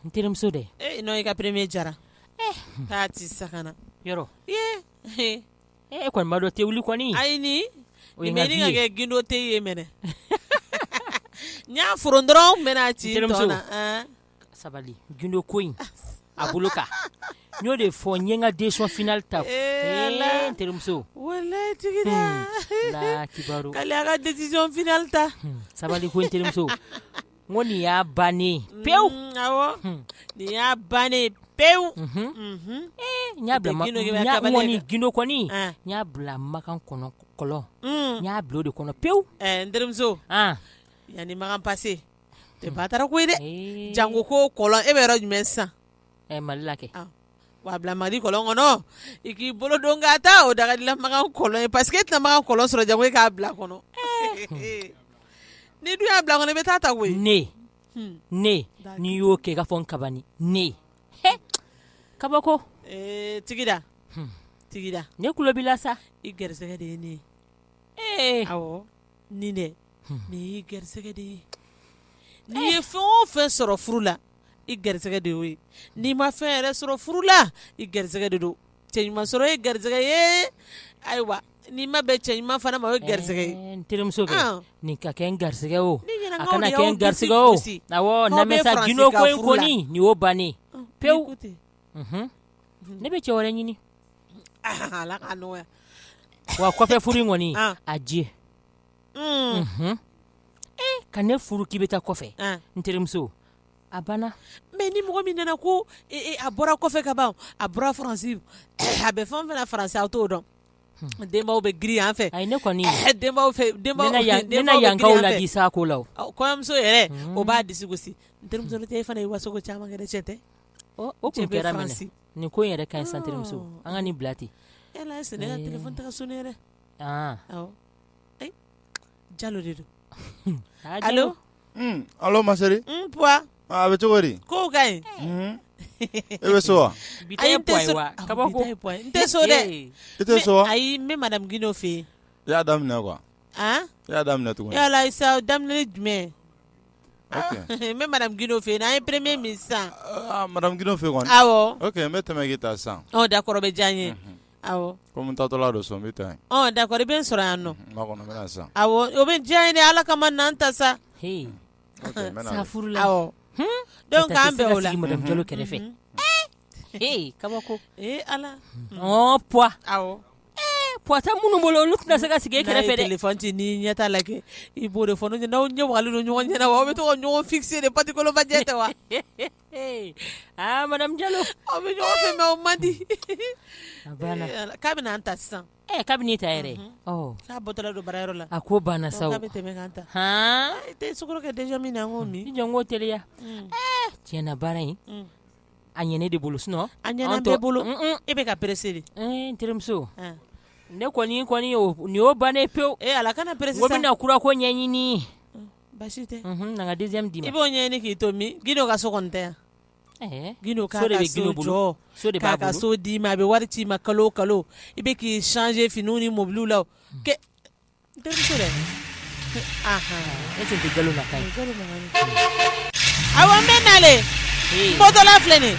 N terimuso dɛ ee n'o ka premier jara k'a tɛ sa yɔrɔ ee e kɔni ma dɔ tɛ wuli kɔni ayi o kɛ gindo tɛ ye mɛnɛ n y'a fɔ dɔrɔn n bɛna ci sabali gindo ko in a bolo kan n y'o de fɔ n ka décision finale ta terimuso kiba ka décision finale ta sabali ko terimuso Ko nin y'a bannen pewu nin y'a bannen pewu gindo kɔni n y'a bila makan kɔnɔ kɔlɔn n y'a bila o de kɔnɔ pewu n terimuso yanni makan passé tɛ ba taara ko ye dɛ jango ko kɔlɔn e bɛ yɔrɔ jumɛn sisan mali la kɛ wa bila mali kɔlɔn kɔnɔ i k'i bolo don k'a ta o daga dilan makan kɔlɔn ye parce que e tɛna makan kɔlɔn sɔrɔ jango e k'a bila kɔnɔ n'i dun y'a bila kɔnɔ i bɛ taa ta koyi ne hmm. ne n'i y'o kɛ i k'a fɔ n kabani ne kabako eh, tigida hmm. tigida ne tulo b'i la sa i garisɛgɛ de ye ne ye ee eh. awɔ nin dɛ hmm. nin y'i garisɛgɛ de ye n'i ye fɛn o fɛn sɔrɔ furu la i garisɛgɛ de ye n'i ma fɛn yɛrɛ sɔrɔ furu la i garisɛgɛ de don cɛ ɲuman sɔrɔ ye garisɛgɛ ye ayiwa n'i ma bɛn cɛ ɲuman fana ma o ye garisɛgɛ ye terimuso nin ka kɛ n garisɛgɛ o garisɛgɛ bannen pewu ne bɛ cɛ wɛrɛ ɲini wa kɔfɛ furu kɔni a diɲɛ ka ne furu k'i bɛ taa kɔfɛ n terimuso a banna mais ni mɔgɔ min nana ko a bɔra kɔfɛ ka ban a bɔra faransi a bɛ fɛn o fɛn na faransi aw t'o dɔn denbaw bɛ girin yan fɛ ne kɔni sa ko la kɔɲɔmuso yɛrɛ o b'a disi gosi n terimuso n'o tɛ e fana ye waso caman kɛ dɛ cɛ tɛ o tun kɛra nin ko yɛrɛ ka sa n terimuso an ka nin bila ten est-ce que ne ka téléphone tɛ ka sonner yɛrɛ jalo de don allo ma chérie a bɛ cogo di ko ka ɲi e bɛ so wa n tɛ so dɛ i tɛ so ayi n bɛ madame gindo fɛ yen i y'a daminɛ quoi i y'a daminɛ tugun yala sa daminɛ jumɛn n bɛ madame gindo fɛ yen an ye premier min sisan madame gindo fɛ yen kɔni awɔ n bɛ tɛmɛ k'i ta sisan d'accord o bɛ diya n ye komi n taatɔla don so n bɛ d'accord i bɛ n sɔrɔ yan nɔ sa o bɛ diya n ye dɛ ala kama na n ta sa furu la donc an bɛn o la jalo kɛrɛfɛ kabako ala poids tɛ minnu bolo olu tɛna se ka sigi e kɛrɛfɛ téléphone ci ni ɲɛ t'a la kɛ i b'o de fɔ n'aw ɲɛ wagalen don ɲɔgɔn ɲɛna wa aw bɛ to ka ɲɔgɔn fixer de patikoloba jɛ tɛ wa aa madame Jalo, aw bɛ ɲɔgɔn fɛ mais o man di, a banna, k'a bɛna an ta sisan, ɛ k'a bɛ ne ta yɛrɛ, unhun, k'a bɔtɔla don baara yɔrɔ la, a ko banna sa o, k'a bɛ tɛmɛ ka n ta, han, i tɛ sukaro kɛ deuxième in na n k'o min, i jɔ n k'o teliya, ɛɛ tiɲɛ na baara in, un, a ɲɛ ne de bolo sinon a ɲɛna bɛɛ bolo, un un, e bɛ ka presser de, n terimuso, un, ne kɔni kɔni nin y'o bannen ye pewu, ee Ala kana presser sa, n ko n bɛna kura ko ɲɛɲini, un basi tɛ na ka deuxième di i b'o ɲɛ ɲini k'i to min Guindo ka so kɔni tɛ yan Guindo ka so d'i ma a bɛ wari ci i ma kalo o kalo i bɛ k'i changer finiw ni mɔbiliw la dɛ a bɛ nalen bɔtɔla filɛ de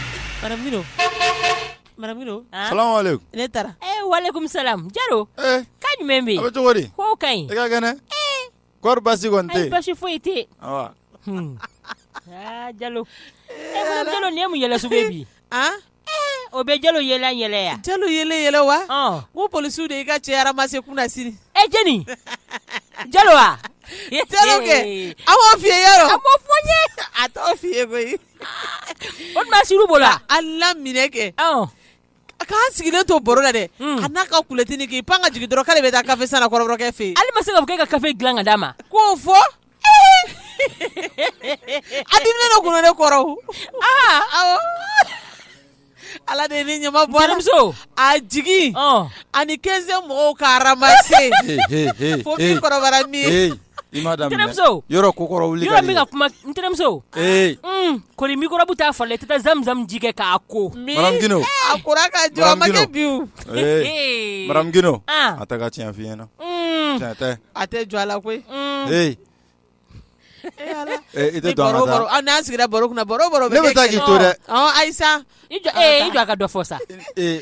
ne taara walekum salam jalo ko jumɛn bɛ yen cogo di ko ka ɲi Kɔri baasi kɔni tɛ yen? Ayi baasi foyi tɛ yen. Ɔ. Hun. Aa Jalo. E ko Jalo nin ye mun yɛlɛ sugu ye bi? An! Ee o bɛ Jalo yɛlɛ yɛlɛ yan. Jalo yɛlɛ yɛlɛ wa? Ɔn! Ko polisiw de y'i ka cɛ ramasser kunasini. E Jeni! Jalo wa? Jalo kɛ! A m'o f'i ye yɛrɛ? A m'o fɔ n ye. A t'o f'i ye koyi. O tuma a sir'u bolo wa? A laminɛ kɛ. Ɔn! A k'an sigilen to baro la dɛ a n'a ka kulɔtinin k'i pan ka jigin dɔrɔn k'ale bɛ taa kafe san kɔrɔbɔrɔkɛ fɛ yen ale ma se k'a fɔ k'e ka kafe dilan ka d'a ma k'o fɔ a diminen don kunun ne kɔrɔ ala de ye ne ɲama bɔ terimuso a jigin ani quinzième mɔgɔw k'a ramasser fo kɔrɔ min I ma daminɛ n terimuso yɔrɔ kokɔrɔ wuli ka di dɛ yɔrɔ n bɛ ka kuma n terimuso ee un kɔri microbe t'a fari la i tɛ taa zam zam ji kɛ k'a ko min Madame Guindo a kora ka jɔ a ma Madame kɛ Guindo. bi o ee madame Guindo an a tɛ ka tiɲɛ f'i ɲɛna un tiɲɛ tɛ a tɛ jɔ a la koyi un ee Eh, ala. ee i tɛ Ni don baro an ka baro taa aw n'an sigira baro kunna baro baro ne bɛ taa k'i to dɛ Ɔ, ayisa i jɔ ee i jɔ a ka dɔ fɔ sa ee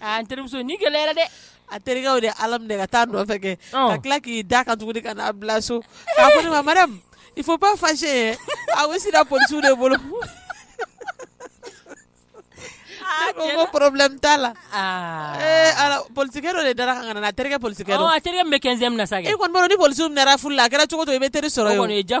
An terimuso ni gɛlɛyara dɛ a terikɛ de ala minɛ ka taa nɔfɛ kɛ ka tila k'i da ka tugu ka n'a bila so a ko ma i fo ba fase ye a bɛ sera psiw de bolo porobi t'a la polikɛ dɔ de da ka na terikɛ poli terikɛ bɛ kɛ sa e kɔni ni poli furu la a kɛra cogo to i bɛ teri sɔrɔ ja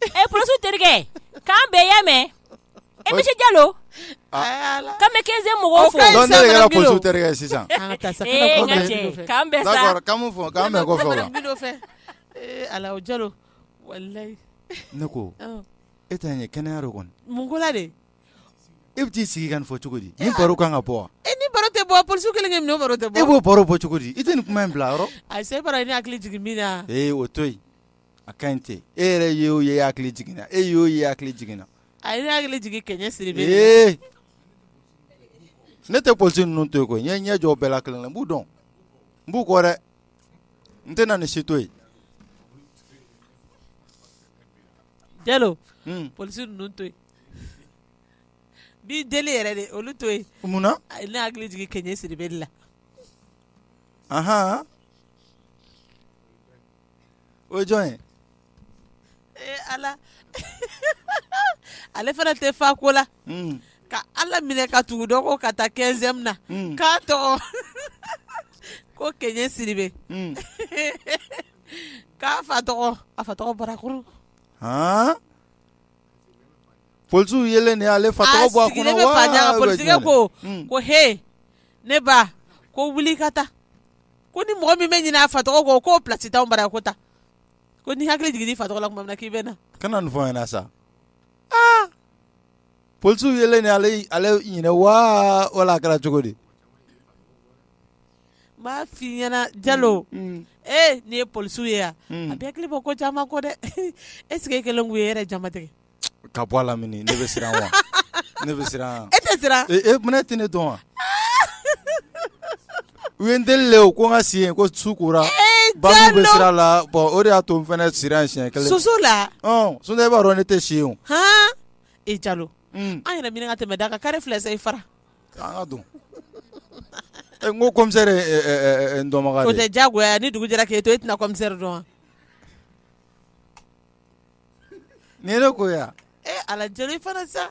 e polisiw terikɛ k'an bɛɛ y'a mɛn monsieur jalo k'an bɛ quinzième mɔgɔw fo e tɛna kɛnɛya de kɔni e bɛ t'i sigi ka nin fɔ cogo di nin baro kan ka bɔ wa nin baro tɛ bɔ polisiw kelen tɛ e b'o baro bɔ cogo di i tɛ nin kuma in bila yɔrɔ a se hakili jigin min na o to a ka ɲi ten e yɛrɛ ye o ye hakili jiginna e y'o ye hakili jiginna a ye ne hakili jigin kɛɲɛ siribɛ ee ne tɛ polisi ninnu to yen ko n ye ɲɛ jɔ bɛɛ la kelen na n b'u dɔn n b'u kɔ dɛ n tɛna nin si to yen jalo hmm. polisi ninnu to yen bi deli yɛrɛ de olu to yen mun na a ye ne hakili jigin kɛɲɛ siribɛ la ahan o ye jɔn ye ee ala ale fana tɛ fa ko la hmm. ka ala minɛ ka tugu dɔ kɔ ka taa quinzième na hmm. k'a tɔgɔ ko kɛɲɛ siribɛ hmm. k'a fa tɔgɔ a fa tɔgɔ barakuru polisiw yelen de y'ale fa tɔgɔ bɔ a kɔnɔ wa a sigilen bɛ polisikɛ ko ko he ne ba ko wuli ka taa ko ni mɔgɔ min bɛ ɲinɛ a fa tɔgɔ kɔ k'o plasi t'an bara ko taa ko n'i hakili jigin i fa tɔgɔ la tuma min k'i bɛ na kana nin fɔ n ɲɛna sa aa polisiw yelen de ale ale ɲinɛ waa wala a kɛra cogo di n m'a f'i ɲɛna jalo mm, mm. ee nin ye polisiw ye yan mm. a bɛ hakili bɔ ko caman kɔ dɛ est-ce que e kelen k'u ye yɛrɛ jama tigɛ ka bɔ lamini ne bɛ siran wa ne bɛ siran e tɛ siran e mɛ tɛ ne dɔn wa u ye n deli de ko n ka si yen ko su kora ba bɛ sira la bɔn o de y'a to n fana sira yen siɲɛ kelen soso la sinon e b'a dɔn ne tɛ si yen o hɔn e jalo an yɛrɛ minɛ ka tɛmɛ da kan kare filɛ i fara an ka don n ko komisɛri ye n dɔnbaga ye o tɛ diyagoya ni dugu jɛra k'e to e tɛna komisɛri dɔn wa Ni ne ko yan e ala jalo i fana sa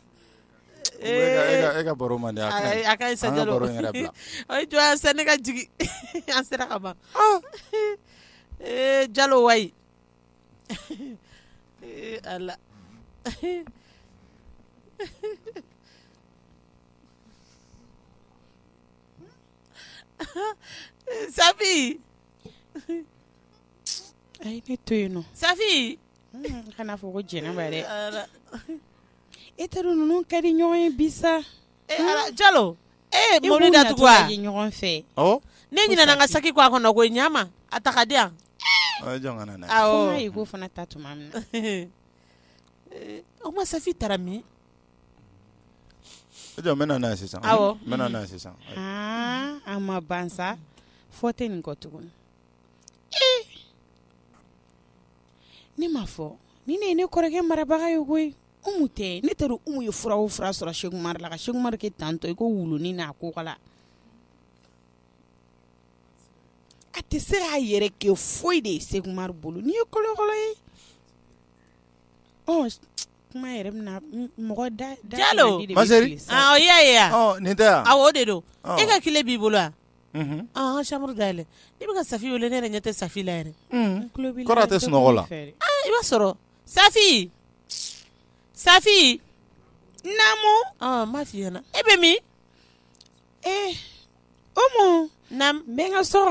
e ka baro man di a ka ɲi sa jalo a jɔ sa ne ka jigin an sera ka ban ee jalo wayi ala safi to yen nɔ safi kana fɔ ko jɛnɛ yɛrɛ e teri ninnu ka di ɲɔgɔn ye bi sa e jalo e mɔbili da tugu ɲɔgɔn fɛ ne ɲinɛna n ka saki kɔ a kɔnɔ koyi ɲama a ta k'a di yan k'o fana ta tuma min o ma safi taara min e jɔ n bɛ na n'a ye sisan n bɛ na n'a ye sisan a ma ban sa foyi tɛ nin kɔ tuguni ne ma fɔ ni ne ye ne kɔrɔkɛ marabaga ye koyi Umu tɛ ne t'a dɔn Umu ye fura o fura sɔrɔ Sɛkumaru la ka Sɛkumaru kɛ tantɔ i ko wulunin n'a kukala a tɛ se k'a yɛrɛ kɛ foyi de ye Sɛkumaru bolo nin ye kolokolo ye ɔ kuma yɛrɛ bɛna mɔgɔ da da Jalo ma chérie ɔ i y'a ye wa nin tɛ wa awɔ o de don e ka kile b'i bolo wa. chambre da yɛlɛ ne bɛ ka Safi weele ne ɲɛ tɛ Safi la yɛrɛ i b'a sɔrɔ Safi Safi ma fi e bɛ min ee n bɛ n ka so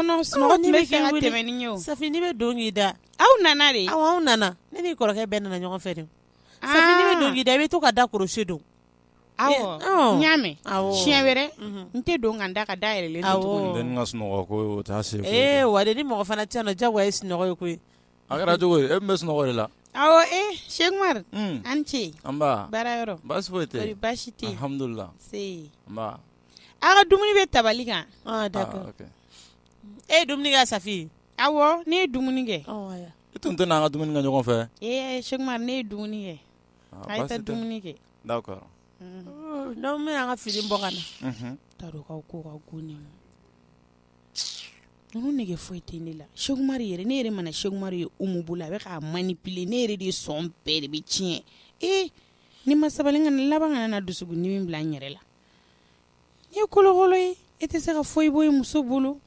Safi n'i bɛ don k'i da aw nana de aw aw nana ne n'i kɔrɔkɛ bɛɛ nana ɲɔgɔn fɛ de n'i bɛ don k'i da i bɛ to ka da crochet don y'a mɛn siɲɛ wɛrɛ n tɛ don ka n da ka da yɛlɛlen to ni mɔgɔ fana tɛ yan jagoya ye sunɔgɔ ye koyi a kɛra cogo di e bɛ sunɔgɔ de la awɔ e Sɛkumari an ce baara baasi tɛ baasi tɛ alhamdulilahi aw ka dumuni bɛ tabali kan d'accord e ye dumuni kɛ Safi awɔ ne ye dumuni kɛ e tun tɛ n'an ka dumuni kɛ ɲɔgɔn fɛ ee Sɛku ne ye dumuni kɛ dumuni kɛ n'aw bɛna an ka fini bɔ ka na k'aw ko ka go ninnu nege foyi tɛ ne la sɛkumari yɛrɛ ne yɛrɛ mana sɛkumari ye Umu bolo a bɛ k'a manipuler ne yɛrɛ de sɔn bɛɛ de bɛ tiɲɛ ee ni n ma sabali ka laban ka na dusukun dimi bila n yɛrɛ la nin ye kolokolo ye e tɛ se ka foyi bɔ i muso bolo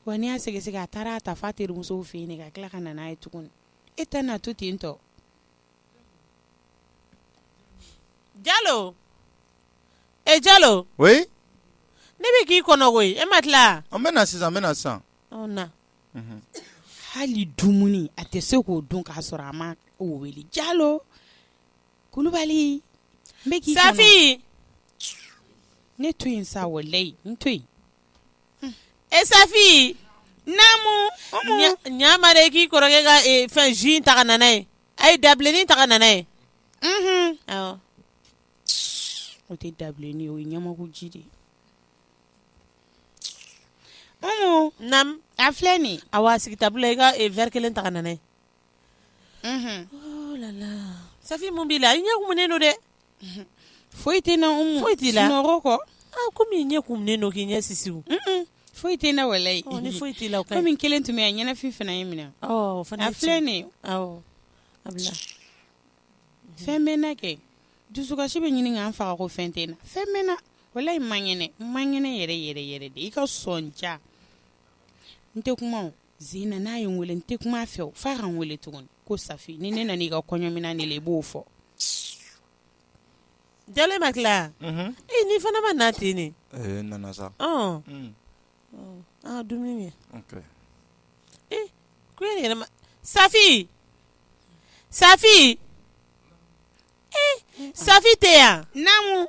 wa n'i y'a sɛgɛsɛgɛ a taara a ta f'a terimuso fɛ yen ka tila ka na n'a ye tuguni e tɛ n'a to ten tɔ Jalo e Jalo ne bɛ k'i kɔnɔ koyi e ma tila an bɛ na sisan an bɛ na sisan hali dumuni a tɛ se k'o dun k'a sɔrɔ a ma o wele Jalo Kulubali Safi ne to yen sa walayi n to E Safi namu ɲama de k'i kɔrɔkɛ ka fɛn jus ta ka na n'a ye a ye dabilennin ta ka na n'a ye o tɛ dabilennin ye o ye ɲamaku ji de ye Umu nam a filɛ nin a wa a sigi table la i ka verre kelen ta ka na n'a mun b'i la i ɲɛ kumunen don dɛ foyi tɛ n na umu foyi t'i la kɔ kɔmi i ɲɛ kumunen don k'i ɲɛ sisi foyi tɛ n na walayi foyi t'i la kɔmi n kelen tun bɛ yan ɲɛnafin fana ye n minɛ fana filɛ nin fɛn bɛ n na kɛ dusukasi bɛ ɲini ka n faga ko fɛn tɛ n na fɛn bɛ n na walayi n man kɛnɛ n man kɛnɛ yɛrɛ yɛrɛ yɛrɛ de i ka sɔn ja n tɛ kuma zina n'a ye n weele n tɛ kuma a fɛ o f'a ka n weele tuguni ko safi ni ne nana i ka kɔɲɔminan de la i b'o fɔ jalo ma tila yan ee ni fana ma na ten ne ee nana sa ɔn Mm, an ka dumuni kɛ ok ee ko e yɛrɛ ma safi safi ee safi tɛ yan naamu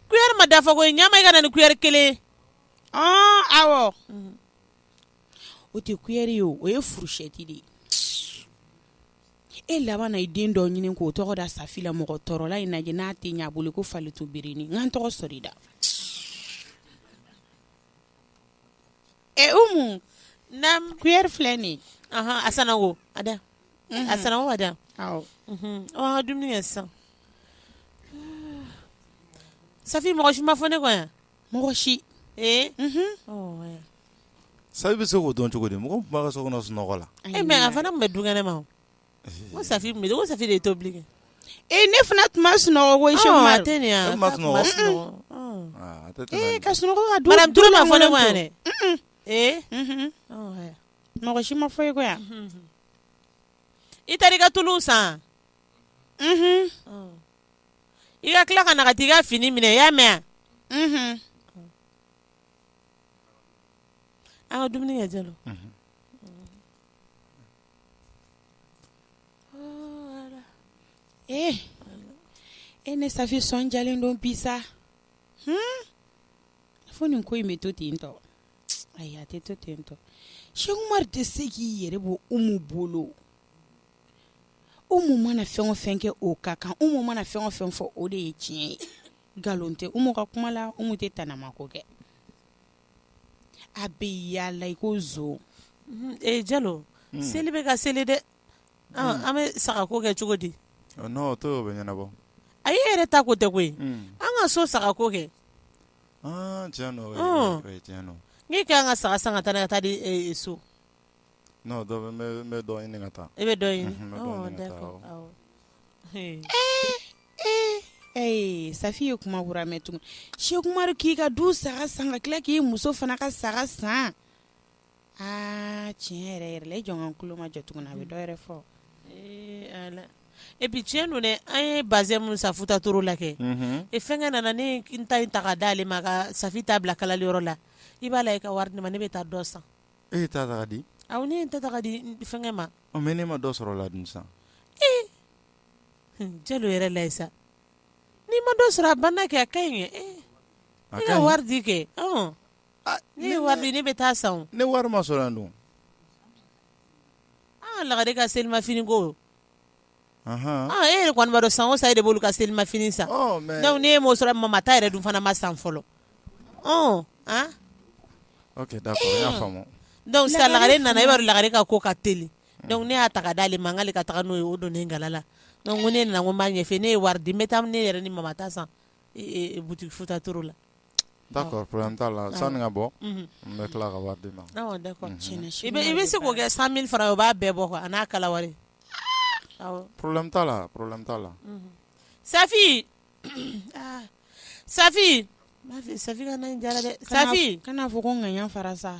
kuyɛri ma dafa koyi ɲama i ka na ni kuyɛri kelen ye ɔn awɔ o tɛ kuyɛri ye o ye furusɛti de ye e laban na i den dɔ ɲini k'o tɔgɔ da safi la mɔgɔ tɔɔrɔla in lajɛ n'a tɛ ɲɛ a bolo ko falitu birini n ka n tɔgɔ sɔrɔ i da e umu na kuyɛri filɛ nin a sananko a da a sananko a da awɔ an ka dumuni kɛ sisan safi mɔgɔ si ma fɔ ne kɔ yan mɔgɔ si ee safi bɛ se k'o dɔn cogo di mɔgɔ tun b'a ka so kɔnɔ sunɔgɔ la mɛ a fana tun bɛ dukɛnɛ ma ko safi ko safi de ye tobili kɛ ne fana tun ma sunɔgɔ tɛ ne yan ka sunɔgɔ ma fɔ ne kɔ yan dɛ ee mɔgɔ si ma fɔ i kɔ yan i taara i ka tulu san i ka tila ka na ka t'i ka fini minɛ i y'a mɛn wa? Mhm. an ka dumuni kɛ jalo Eh, e ne safi sɔn jalen don bi sa Hmm? fo nin ko in bɛ to ten tɔ ayi a tɛ to ten tɔ seku umar tɛ se k'i yɛrɛ bɔ umu bolo umu mana fɛn o fɛn kɛ o ka kan umu mana fɛn o fɛn fɔ o de ye tiɲɛ ye nkalon tɛ umu ka kuma la umu tɛ tanamako kɛ a bɛ yaala i ko zo jalo seli bɛ ka seli dɛ an bɛ saga ko kɛ cogo di ɲɛnabɔ an yɛrɛ ta ko tɛ koyi an ka so saga ko kɛ an ka saga san ka taa ka taa di so N dɔ n bɛ dɔ ɲini ka taa e bɛ dɔ ɲini ee safi ye kuma kura mɛn tugun sɛkumaru k'i ka du saga san ka tila k'i muso fana ka saga san aa tiɲɛ yɛrɛ yɛrɛ la e jɔn ka tulo ma jɔ tuguni na a bɛ dɔw yɛrɛ fɔ epi tiɲɛ don dɛ an ye bazɛn minnu san futa toro la kɛ e fɛnkɛ nana ne ta in ta ka d'ale ma ka safi ta bila kalali yɔrɔ la i b'a la i ka wari di n ma ne bɛ taa dɔ san E ta ta ka di awɔ ne ye n ta ta ka di fɛnkɛ ma ɔ mɛ ne ma dɔ sɔrɔ la dun san jalo yɛrɛ la sa n'i ma dɔ sɔrɔ a banna kɛ a ka ɲi e ka wari di kɛ n'e ye wari di ne bɛ taa san ne wari ma sɔrɔ yan dun lagare ka selimafini ko e yɛrɛ kɔni b'a dɔn san o san e de b'olu ka selimafini san dɔnku ne m'o sɔrɔ mama ta yɛrɛ dun fana ma san fɔlɔ sisan lagare nana e b'a dɔn lagare ka ko ka teli dɔnku ne y'a ta ka d'ale ma n k'ale ka taa n'o ye o don kala la dɔnku ne nana n ko n b'a ɲɛfɛ n'e ye wari di n bɛ taa ne yɛrɛ ni mama ta san butiki futa toro la Pɔrɔbulɛmu t'a la san ka bɔ n bɛ tila ka wari d'i ma i bɛ se k'o kɛ san mili faran o b'a bɛɛ bɔ kuwa a n'a kala wari pɔrɔbulɛmu t'a la pɔrɔbulɛmu t'a la safi safi safi dɛ safi kana fɔ ko ŋaɲa fara sa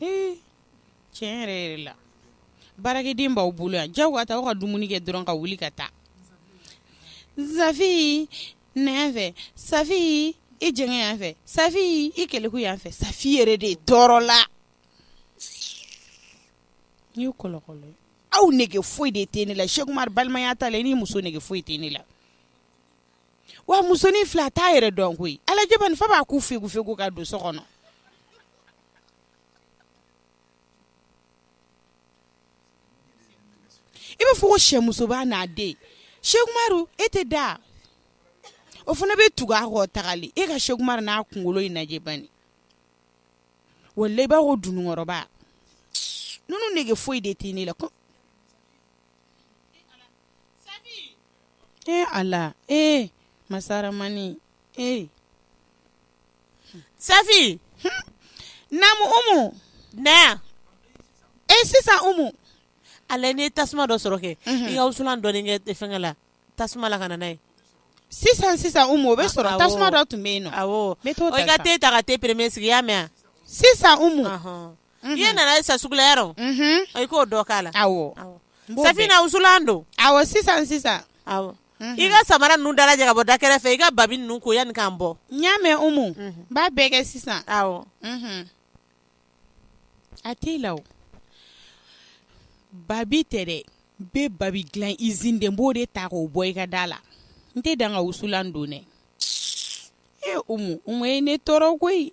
Ee tiɲɛ yɛrɛ yɛrɛ la baarakɛden b'aw bolo yan ja waa taa aw ka dumuni kɛ dɔrɔn ka wuli ka taa safi na yan fɛ safi i jɛngɛ yan fɛ safi i kɛlɛku yan fɛ safi yɛrɛ de tɔɔrɔla n kɔlɔ aw nege foyi de tɛ ne la sɛkumaru balimaya t'a la i ni muso nege foyi tɛ ne la wa musonin fila t'a yɛrɛ dɔn koyi a lajɛ bani fa b'a ku fegu fegu ka don so kɔnɔ I b'a fɔ ko sɛmusoba n'a den sɛkumaru e tɛ da o fana bɛ tugu a kɔ tagali e ka sɛkumaru n'a kunkolo in lajɛ bani walayi i b'a ko dunukɔrɔba ninnu nege foyi de tɛ ne la ee ala ee masaramani ee Safi namu umu na sisan umu a lajɛ n'i ye tasuma dɔ sɔrɔ kɛ i ka wusulan dɔɔni kɛ fɛnkɛ la tasuma la ka na n'a ye sisan umu o bɛ sɔrɔ tasuma dɔ tun bɛ yen i ka te ta ka te peremiye sigi i y'a mɛn sisan umu i ye nana san sugu la yɔrɔ i k'o dɔ k'a la safi na wusulan don sisan sisan i ka samara ninnu dalajɛ ka bɔ da kɛrɛfɛ i ka babi ninnu ko yanni k'an bɔ n y'a mɛn umu b'a bɛɛ kɛ sisan awɔ a t'i la o babi tɛ dɛ n bɛ babi dilan izini de n b'o de ta k'o bɔ i ka da la n tɛ dan ka wusulan don dɛ e umu umu ye ne tɔɔrɔ koyi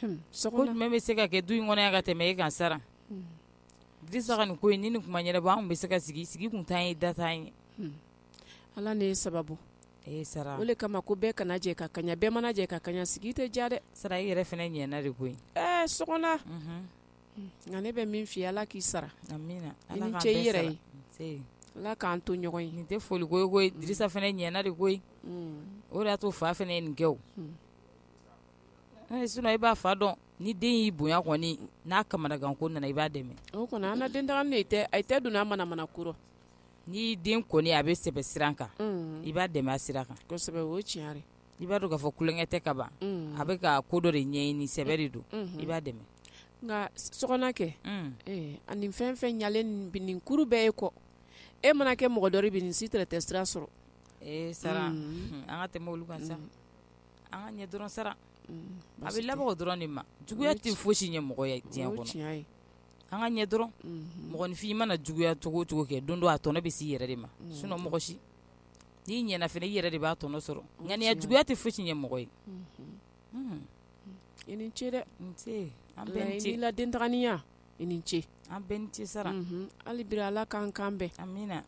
jumɛn bɛ se ka kɛ du in kɔnɔ ka tɛmɛ e kan sara dirisa ka nin ko nin kuma yɛrɛ anw bɛ se ka sigi sigi kun t'an ye da t'an ye ala ne ye sababu e sara o kama ko bɛɛ kana jɛ ka kaɲa bɛɛ mana jɛ ka kaɲa sigi tɛ diya dɛ sara i yɛrɛ fana ɲɛana de koyi ɛɛ sokona nka ne bɛ min f'i ye ala k'i sara amiina i ni ce i yɛrɛ ye ala k'an to ɲɔgɔn ye nin tɛ foli ko ye koyi dirisa fana ɲɛana de koyi o de y'a to fa fana ye nin kɛ i b'a fa dɔn ni den y'i bonya kɔni n'a kamanagan ko nana i b'a dɛmɛ o kɔni an den a tɛ don manamana ko rɔ ni den kɔni a bɛ sɛbɛ sira kan i b'a dɛmɛ a sira kan o ye tiɲɛ ye i b'a dɔn k'a fɔ kolonkɛ tɛ ka ban a bɛ ka ko dɔ de ɲini sɛbɛ de don i b'a dɛmɛ nka sokona kɛ ani fɛn fɛn ɲalen nin kuru bɛɛ ye kɔ e mana kɛ mɔgɔ dɔ bi nin si tɛ sira sɔrɔ sara an ka tɛmɛ olu kan sa an ka ɲɛ dɔrɔn sara a bɛ laban bɔgɔ dɔrɔn de ma juguya tɛ foyisi ɲɛ mɔgɔ ye diɲɛ kɔnɔ an ka ɲɛ dɔrɔn mɔgɔninfin i mana juguya cogo cogo kɛ don dɔ a tɔnɔ bɛ se i yɛrɛ de ma sinɔn mɔgɔ si n'i ɲɛna fana i yɛrɛ de b'a tɔnɔ sɔrɔ ŋaniya juguya tɛ foyisi ɲɛ mɔgɔ ye i ni ce dɛ an bɛɛ ni ce i la dentaya i ni ce an bɛɛ ni ce sara hali bi ala k'an kan bɛn amiina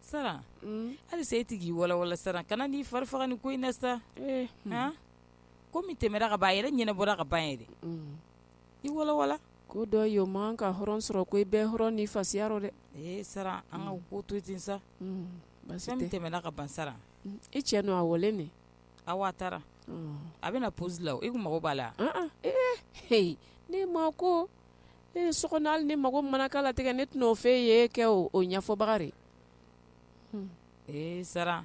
Sara hali e tigi iwalawala sara kana i fari faga nin ko in na sa ko min tɛmɛna ka ban a yɛrɛ ɲɛnabɔra ka ban yɛrɛ iwalawala ko dɔ ye o man kan ka hɔrɔn sɔrɔ ko i bɛ hɔrɔn ni fasiya rɔ dɛ ee sara an ka ko to ten sa min tɛmɛna ka ban sara e cɛ dun a wale nin a waa taara a bɛna psi la i mago b'a la h ne ma ko ee sokona hali ne mago mana k'a la tiɲɛ ne t'o f'i ye kɛ o o ɲɛfɔbaga de ee sara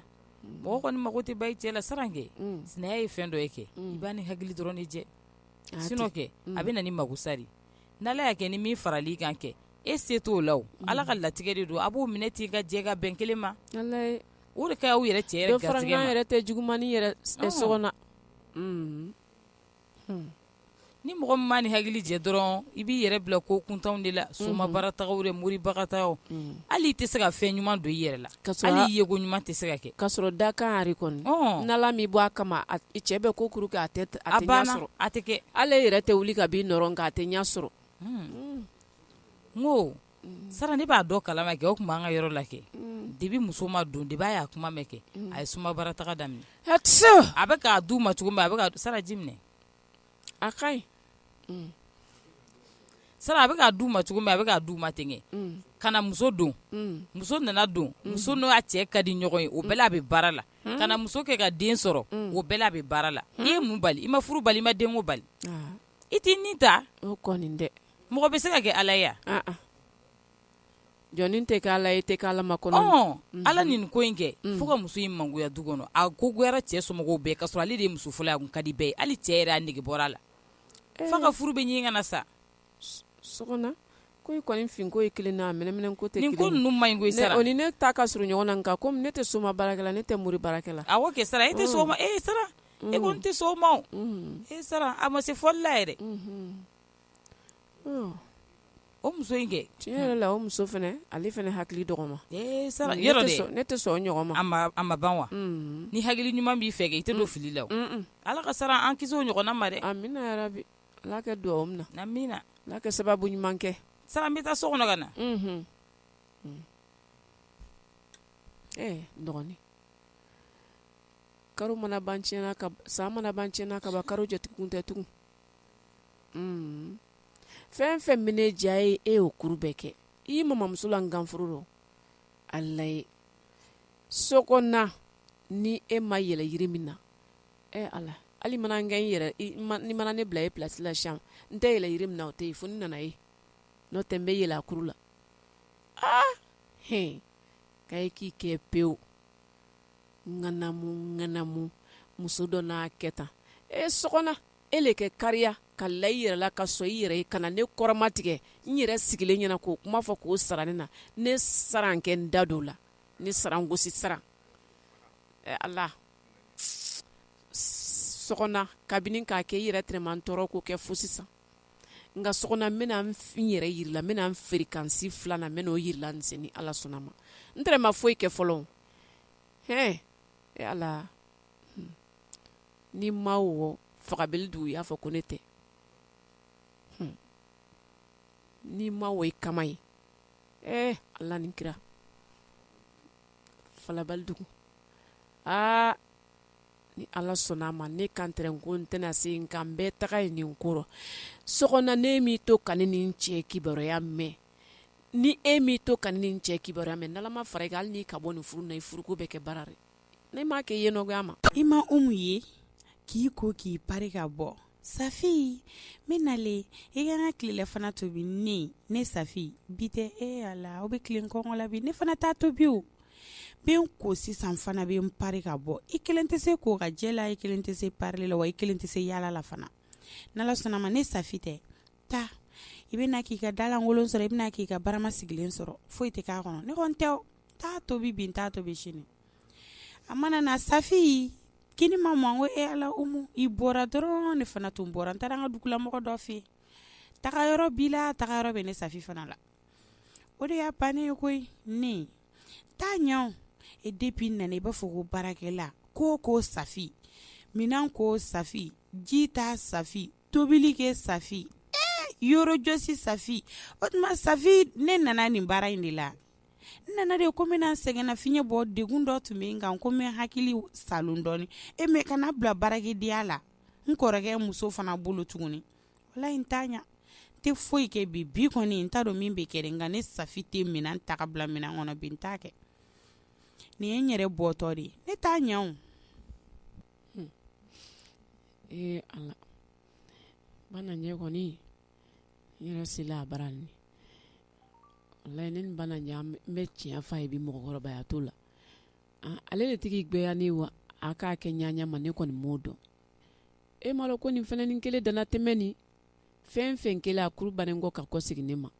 mɔgɔ kɔni mago tɛ ban i cɛ la sara kɛ sinaya ye fɛn dɔ ye kɛ i b'a n'i hakili dɔrɔn de jɛ sinɔn kɛ a bɛ na ni mako sa ari n'ala y'a kɛ ni min faral'i kan kɛ e se t'o la ala ka latigɛ de don aw b'o minɛ ten ka jɛ ka bɛn kelen ma o de ka ɲi aw yɛrɛ cɛ yɛrɛ tɛ juguman ye sokona ni mɔgɔ min m'a n'i hakili jɛ dɔrɔn i b'i yɛrɛ bila ko kuntanw de la somabaratagaw de moribarataga hali i tɛ se ka fɛn ɲuman don i yɛrɛ la hali i yeko ɲuman tɛ se ka kɛ ka sɔrɔ dakan ari kɔni n'ala m'i bɔ a kama i cɛ bɛ ko kuru kɛ a tɛ ɲɛ sɔrɔ a tɛ kɛ ala yɛrɛ tɛ wuli ka b'i nɔ rɔ nka a tɛ ɲɛ sɔrɔ n ko sara ne b'a dɔn kalama kɛ o tun b'an ka yɔrɔ la kɛ de bɛ muso ma don de b'a y'a kuma mɛn kɛ a ye soma bara taga daminɛ a tɛ a bɛ k'a du ma cogo min a bɛ saraji minɛ a ka ɲi sara a bɛ k'a du ma cogo min a bɛ k'a du ma ten ka na muso don muso nana don muso n'a cɛ ka di ɲɔgɔn ye o bɛɛ la a bɛ baara la ka na muso kɛ ka den sɔrɔ o bɛɛ la a bɛ baara la i ye mun bali i ma furu bali i ma den bali i tɛ nin ta kɔni dɛ mɔgɔ bɛ se ka kɛ ala yan jɔn tɛ ala e tɛ ala ma kɔnɔ ala nin ko in kɛ fo ka muso in mangoya du kɔnɔ a ko goyara cɛ somɔgɔw bɛɛ ka sɔrɔ ale de muso fɔlɔ a ka di bɛɛ ye hali cɛ yɛrɛ a nege bɔra a la f'a ka furu bɛ ɲini ka na sa so ko kɔnifin ko ye kelen na mɛn ko tɛ ko ninnu man ɲi sara o ni ne ta ka surun ɲɔgɔn na nka ne tɛ soma baara la ne tɛ mori baarakɛla a kɛ sara e tɛ e sara e ko n tɛ sɔn o ma e sara a ma se fɔli la yɛrɛ o muso in kɛ tiɲɛ yɛrɛ la o muso fɛnɛ ale fɛnɛ hakili dɔgɔman sara ne tɛ sɔn o ɲɔgɔn ma a ma ban wa ni hakili ɲuman b'i fɛ kɛ i tɛ don fili la ala ka sara an kisi o ɲɔgɔnna ma dɛ amiina yarabi ala kɛ dugawu mina amiina ala kɛ sababu ɲuman kɛ sara n bɛ taa so kɔnɔ ka na dɔgɔnin kalo mana ban tiɲɛna ka san mana ban tiɲɛna ka ban kalo jate kun tɛ tugun unn fɛn fɛn min ne diya ye e y'o kuru bɛɛ kɛ i y'i mamamuso la nganforo rɔ ala ye sɔgɔna ni e ma yɛlɛ yiri min na ɛ ala hali mana n kɛ n yɛrɛ i ma ni mana ne bila e pilasi la sisan n tɛ yɛlɛ yiri min na o tɛ yen fo ni nana ye n'o tɛ n bɛ yɛlɛ a kuru la aa hin k'a ye k'i kɛ pewu ŋanamu ŋanamu muso dɔ n'a kɛ tan e sɔgɔna e le kɛ kariya ka la i yɛrɛ la ka sɔn i yɛrɛ ye ka na ne kɔrɔma tigɛ n yɛrɛ sigilen ɲɛna k'o kuma fɔ k'o sara ne na ne sara kɛ n da dɔw la ne sara gosi sara ɛ ala sɔgɔna kabini k'a kɛ i yɛrɛ tɛrɛ ma n tɔɔrɔ ko kɛ fo sisan nka sɔgɔna n bɛna n yɛrɛ yira i la n bɛna n feerekansi filanan n bɛna o yira i la sini ni ala sɔnna ma n tɛrɛ ma foyi kɛ fɔlɔ hɛn e ala hmm. ni ma wɔ fagabele dugu i y'a fɔ ko ne tɛ hmm. ni ma wɔ i kama ye eh ala ni kira falabali dugu aa ni ala sɔnna a ma ne kan tɛrɛ ko n tɛna se nka n bɛ taga ye nin kɔrɔ sɔgɔna n'e m'i to ka ne ni n cɛ kibaruya mɛn ni e m'i to ka ne ni n cɛ kibaruya mɛn n'ala ma fara i kan hali n'i ka bɔ nin furu na i furuko bɛ kɛ baara dɛ ne m'a kɛ i ye nɔgɔya ma i ma e mun ye k'i ko k'i ba ka bɔ Safi ne nalen i k'an ka tilelafana tobi ne ne Safi bi tɛ e Ala la aw bɛ tilen kɔngɔ la bi ne fana t'a tobi o n bɛ n ko sisan fana bɛ n pari ka bɔ i kelen tɛ se ko ka jɛ la i kelen tɛ se parili la wa i kelen tɛ se yaala la fana ni Ala sɔnna ma ne Safi tɛ taa i bɛ na k'i ka dalankolon sɔrɔ i bɛ na k'i ka barama sigilen sɔrɔ foyi tɛ k'a kɔnɔ ne kɔni tɛ t'a tobi bi n t'a tobi sini A mana na safi kini ma mɔ n ko e ala Umu i bɔra dɔrɔn ne fana tun bɔra n taara an ka dugulamɔgɔ dɔ fɛ taga yɔrɔ b'i la taga yɔrɔ bɛ ne safi fana la o de y'a bannen ye koyi ne t'a ɲɛ e depuis n nana i b'a fɔ ko baarakɛla ko ko safi minɛn ko safi ji ta safi tobili kɛ safi yɔrɔ jɔsi safi o tuma safi ne nana nin baara in de la n nana de ko n bɛna sɛgɛnnafiɲɛ bɔ degun dɔ tun bɛ n kan ko n bɛ n hakili salon dɔɔni e mais kana n bila baarakɛdenya la n kɔrɔkɛ muso fana bolo tuguni walahi n t'a ɲɛ n tɛ foyi kɛ bi bi kɔni n t'a dɔn min bɛ kɛ nka ne safi tɛ minɛn ta k'a bila minɛn kɔnɔ bi n t'a kɛ nin ye n yɛrɛ bɔtɔ de ye ne t'a ɲɛ o hmm. ee ala bananjɛ kɔni n yɛrɛ sela a bara nin layi nin bananjɛ n bɛ tiɲɛ f'a ye bi mɔgɔkɔrɔbaya t'o la ale de tigi gbɛya ne wa a k'a kɛ ɲaaɲa ma ne kɔni m'o dɔn e m'a dɔn ko nin fana ni kelen dantɛmɛn nin fɛn fɛn kelen a kuru bannen kɔ ka kɔ segin ne ma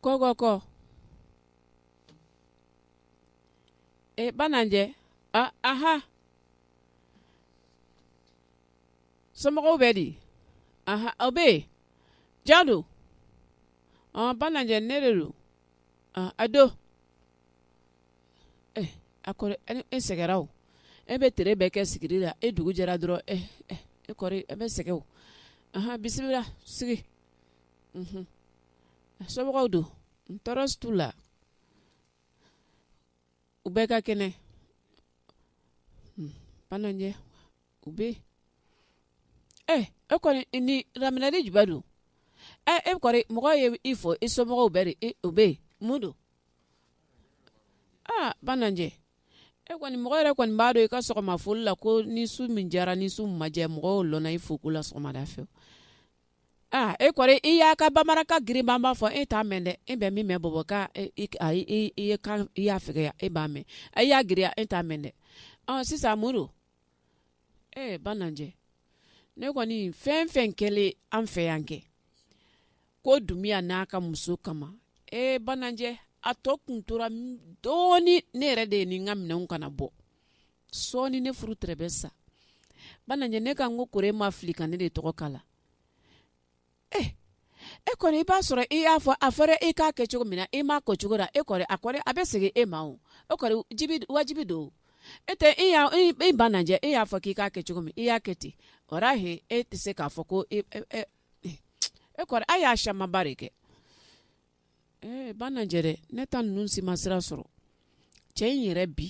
kɔkɔ e bananjɛ aha somɔgɔw bɛ di u bɛ yen jɔn don bananjɛ ne de don a don a kɔrɔ e sɛgɛnra o e bɛ tere bɛɛ kɛ sigiri la e dugu jɛra dɔrɔn e kɔrɔ e bɛ sɛgɛn o bisimila sigi somɔgɔw don n tɔɔrɔ si t'u la u bɛɛ ka kɛnɛ bananjɛ u bɛ e kɔni nin laminɛli jumɛn don ɛ e kɔni mɔgɔ ye i fo i somɔgɔw bɛ di u bɛ yen mun don aa bananjɛ e kɔni mɔgɔ yɛrɛ kɔni b'a dɔn i ka sɔgɔma foli la ko ni su min jɛra ni su ma jɛ mɔgɔ i fo ko la sɔgɔmada fɛ aa e kɔni i y'a ka bamanankan girinba fɔ e t'a mɛn dɛ e bɛ min mɛn bɔbɔkan i y'a fɛya e b'a mɛn a y'a giriya e t'a mɛn dɛ sisan muru ee bananjɛ ne kɔni fɛn fɛn kɛlen an fɛ yan kɛ ko dunbiya n'a ka muso kama ee bananjɛ a tɔ kun tora dɔɔni ne yɛrɛ de ni n ka minɛnw kana bɔ sɔɔni ne furu tɛrɛ bɛ sa bananjɛ ne kan ko kori e ma fili ka ne de tɔgɔ kala e kɔni i b'a sɔrɔ i y'a fɔ a fɔra e k'a kɛ cogo min na e m'a k'o cogo ra e kɔri a bɛ segin e ma o kɔri wajibi don e tɛ e bananjɛ e y'a fɔ k'i k'a kɛ cogo min i y'a kɛ ten o e tɛ se k'a fɔ ko e y'a camanba de kɛ ɛɛ bananjɛ dɛ ne ta ninnu si ma sira sɔrɔ cɛ in yɛrɛ bi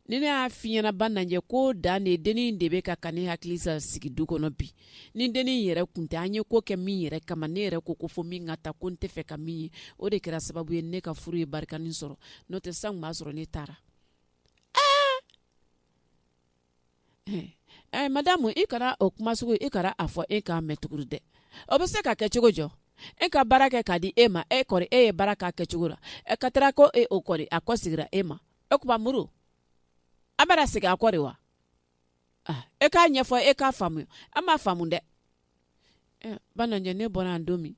ni ne y'a f'i ɲɛna bananjɛ ko den de dennin de bɛ ka ka ne hakili sa sigi du kɔnɔ bi ni dennin yɛrɛ kun tɛ an ye ko kɛ min yɛrɛ kama ne yɛrɛ ko ko fɔ min ka taa ko n t'a fɛ ka min ye o de kɛra sababu ye ne ka furu ye barikanin sɔrɔ n'o tɛ san b'a sɔrɔ ne taara ɛ madamu i kana o kuma sugu i kana a fɔ n k'a mɛn tuguni dɛ o bɛ se ka kɛ cogo jɔ e ka baara kɛ k'a di e ma e kɔri e ye baara k'a kɛ cogo la ɛ ka taara ko e o kɔri a kɔsegira e ma o tuma muru a bɛna segin a kɔ de wa e k'a ɲɛfɔ e k'a faamuya an m'a faamu dɛ bananjɛ ne bɔra yan don min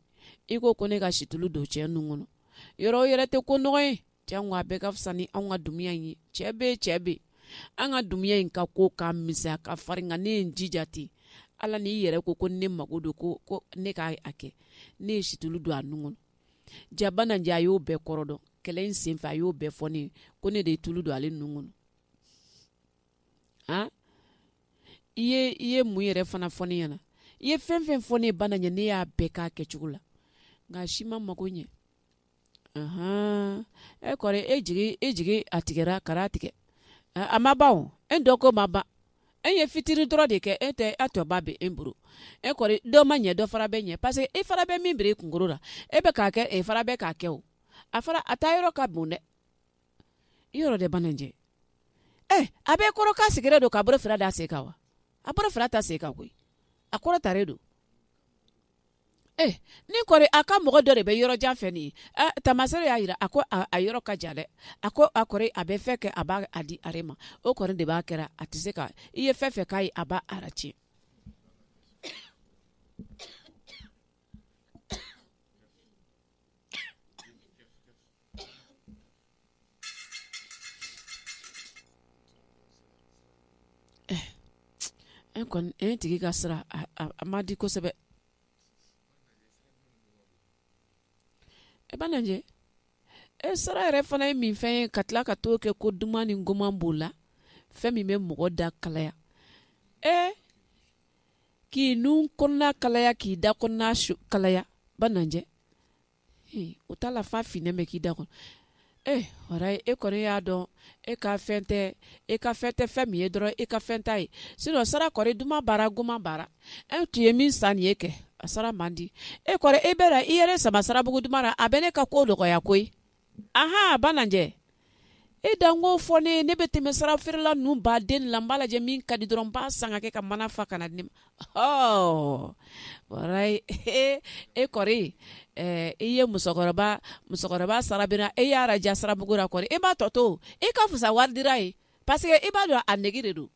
i ko ko ne ka situlu don cɛ nun kɔnɔ yɔrɔ yɛrɛ tɛ ko nɔgɔ ye cɛ a bɛɛ ka fisa ni an ka dunbiya in ye cɛ bɛ cɛ bɛ an ka dunbiya in ka ko ka misɛn ka farin ne ye n jija ten ala ni i yɛrɛ ko ko ne mago don ko ko ne k'a a kɛ ne ye situlu don a nun kɔnɔ jaa bananjɛ a y'o bɛɛ kɔrɔ dɔn kɛlɛ in senfɛ a y'o bɛɛ fɔ ne ye ko ne de ye tulu don ale nun kɔnɔ a i ye i ye mun yɛrɛ fana fɔ ne ɲɛna i ye fɛn fɛn fɔ ne bananjɛ ne y'a bɛɛ k'a kɛcogo la nka a si ma mago ɲɛ ahan e kɔri e jigi e jigi a tigɛra kara tigɛ a a ma ban o e dɔ ko ma ban e ye fitiri dɔrɔn de kɛ e tɛ a tɔ ba bɛ e bolo e kɔri dɔ ma ɲɛ dɔ fara bɛ ɲɛ parce que e fara bɛ min biri e kunkolo la e bɛ k'a kɛ e fara bɛ k'a kɛ o a fara a taa yɔrɔ ka bon dɛ yɔrɔ dɛ bananjɛ ɛ a bɛ kɔrɔ k'a sigilen don k'a bolo fila da sen kan wa a bolo fila da sen kan koyi a kɔrɔtalen don Eh, nin kɔri a ka mɔgɔ dɔ de bɛ yɔrɔ jan fɛ nin ye eh, taamaseere y'a yira a ko a, a yɔrɔ ka jan dɛ a ko a kɔri a bɛ fɛn kɛ a b'a a di are ma o kɔri de b'a kɛra a tɛ se ka i ye fɛn fɛn k'a ye a b'a ratiɲɛ E kɔni e tigi ka sira a man di kosɛbɛ e banajɛ e sara yɛrɛ fana ye min fɛn ye ka tila ka to kɛ ko duman ni goman b'o la fɛn min bɛ mɔgɔ da kalaya e k'i nun kɔnɔna kalaya k'i da kɔnɔna kalaya banajɛ o t'a la fa fini bɛ k'i da kɔnɔ e wara e kɔni y'a dɔn e ka fɛn tɛ e ka fɛn tɛ fɛn min ye dɔrɔn e ka fɛn ta ye sinon sara kɔri duman b'a ra goman b'a ra e tun ye min san nin ye kɛ a sara man di e kɔri e bɛ i yɛrɛ sama sarabugu duman na a bɛ ne ka ko dɔgɔya koyi Ahan Bananjɛ e dan k'o fɔ ne ye ne bɛ tɛmɛ sara feerela ninnu baden de la n b'a lajɛ min ka di dɔrɔn n b'a san ka kɛ ka mana fa ka na di ne ma ɔɔ walayi e e kɔri ɛɛ i ye musokɔrɔba musokɔrɔba sara bina e y'a raja sarabugu la kɔri e b'a tɔ to i ka fisa wari dira ye parce que i b'a dɔn a nege de don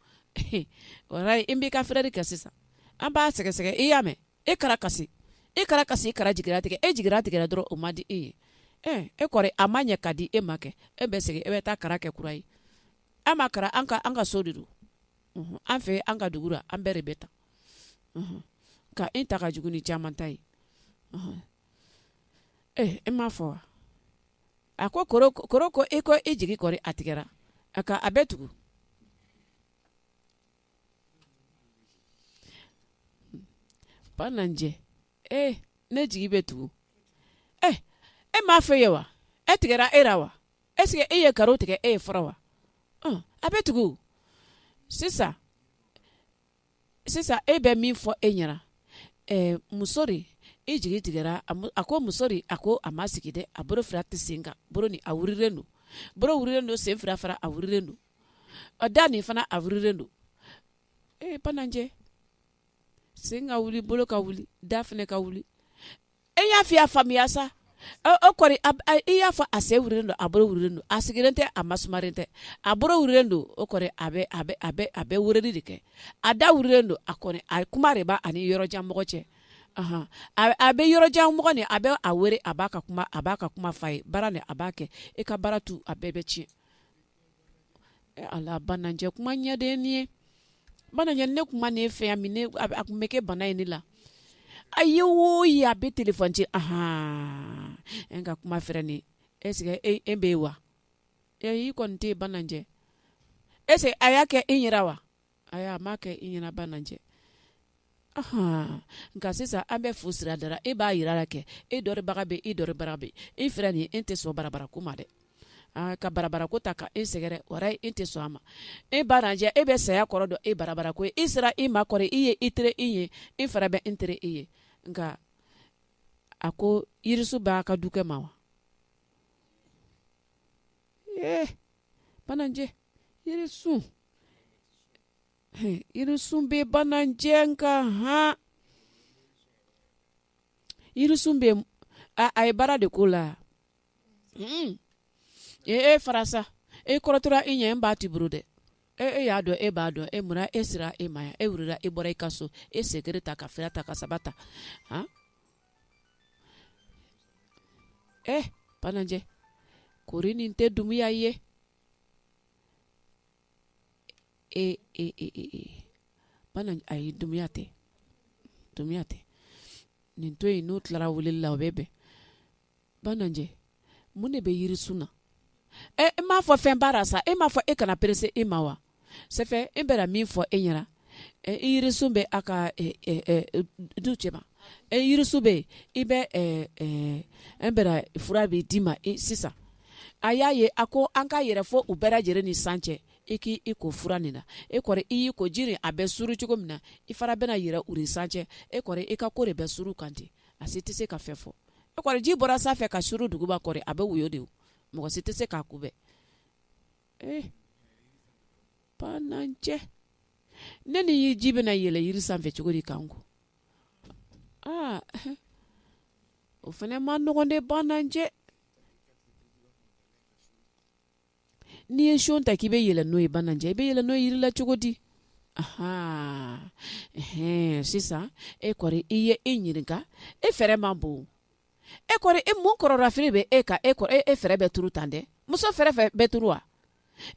walayi i b'i ka fɛɛrɛ de kɛ sisan an b'a sɛgɛsɛgɛ i y'a mɛn e kara kasi e kara kasi e kara jigiratigɛ e jigiratigɛra dɔrɔn o man di e ye e e kɔri a ma ɲɛ ka di e ma kɛ e bɛ segin e bɛ taa kara kɛ kura ye an ma kara an ka an ka so de don an fɛ an ka dugu an bɛɛ de bɛ ta ka e ta ka jugu ni caman ta ye e e m'a fɔ wa a ko kɔrɔ ko e ko e jigi kɔri a tigɛra a bɛ tugu banajɛ ee ne jigi bɛ tugu e e m ma fɛ ye wa e tigɛra e ra wa est-ce que e ye garo tigɛ e ye fɔlɔ wa a bɛ tugu sisan sisan e bɛ min fɔ e ɲɛna ɛ muso de e jigi tigɛra a ko muso de a ko a ma sigi dɛ a bolo fila tɛ sen kan bolo nin a wurilen don wurilen don sen fila fara a wurilen don a da nin fana a wurilen don ee banajɛ sen ka wuli bolo ka wuli da fana ka wuli e y'a fɔ n y'a faamuya sa o kɔrɔ i y'a fɔ a sen wililen don a bolo wililen don a sigilen tɛ a masumaren tɛ a bolo wililen don o kɔrɔ a a bɛ weleli de kɛ a da wililen don a a kuma de b'a ni yɔrɔjanmɔgɔ cɛ a bɛ yɔrɔjanmɔgɔ nin a bɛ a wele a b'a ka kuma a b'a ka kuma f'a ye baara ni a b'a kɛ e ka baara to a bɛɛ bɛ tiɲɛ Ala banajɛ kuma ɲɛ de nin ye banajɛ ne kuma ne fɛ yan min a tun bɛ kɛ bana ye ne la a ye wo ye a bɛ téléphone ci a n ka kuma fɛ nin est-ce que e bɛ yen wa y'i kɔni tɛ banajɛ est-ce que a y'a kɛ e yɛrɛ wa ayi a m'a kɛ i ɲɛna banajɛ ahan nka sisan an bɛ fu sira dara e b'a yira la kɛ e dɔnbaga bɛ e dɔnbaga bɛ e fira nin e tɛ sɔn barabara ko ma dɛ aa ka barabara ko ta ka e sɛgɛrɛ o ye e tɛ sɔn a ma e banajɛ e bɛ saya kɔrɔ dɔn e barabara ko e sera e ma kɔrɔ e ye e teri e ye e fara bɛ e teri e ye nka a ko yirisun b'a ka dukɛ ma wa ee banajɛ yirisun yirisun bɛ banajɛ nka hɔn yirisun bɛ a ye baara de ko la ee e fara sa e kɔrɔtɔra e ɲɛ n ba tɛ bolo dɛ e e y'a dɔn e b'a dɔn e munna e sera e ma yan e wulila e bɔra i ka so e sen kelen ta ka fila ta ka saba ta e banajɛ kori nin tɛ domaya ye e e e e e banajɛ ayi domaya tɛ domaya tɛ nin to yen n'o tilara wele la o bɛ bɛn banajɛ mun de bɛ yirisun na ɛ e m'a fɔ fɛn baara sa e m'a fɔ e kana perese e ma wa sɛfɛ e bɛra min fɔ e ɲɛna yirisun bɛ a ka du cɛ ma e yirisun bɛ yen i bɛ e bɛra fura bɛ d'i ma sisan a y'a ye a ko an ka yɛlɛ fo u bɛɛ lajɛlen ni san cɛ i k'i ko fura nin na e kɔrɔ i y'i ko jiri a bɛ suru cogo min na i fana bɛna yɛlɛ u ni san cɛ e kɔrɔ i ka ko de bɛ suru u kan ten a si tɛ se ka fɛn fɔ e kɔrɔ ji bɔra sanfɛ ka suru duguma kɔrɔ a bɛ woyo de mɔgɔ si tɛ se k'a kunbɛn eh, banajɛ ne ni ji bɛna yɛlɛ yiri sanfɛ cogo di kan ko aa o fana man nɔgɔn dɛ banajɛ n'i ye so ta k'i bɛ yɛlɛ n'o ye banajɛ i bɛ yɛlɛ n'o ye yiri la cogo di ahan sisan e kɔni i ye e ɲininka e fɛɛrɛ man bon e kɔrɔ e mun kɔnɔnafili bɛ e ka e kɔrɔ e e fɛɛrɛ bɛ tuuru tan dɛ muso fɛɛrɛ fɛ bɛɛ tuuru wa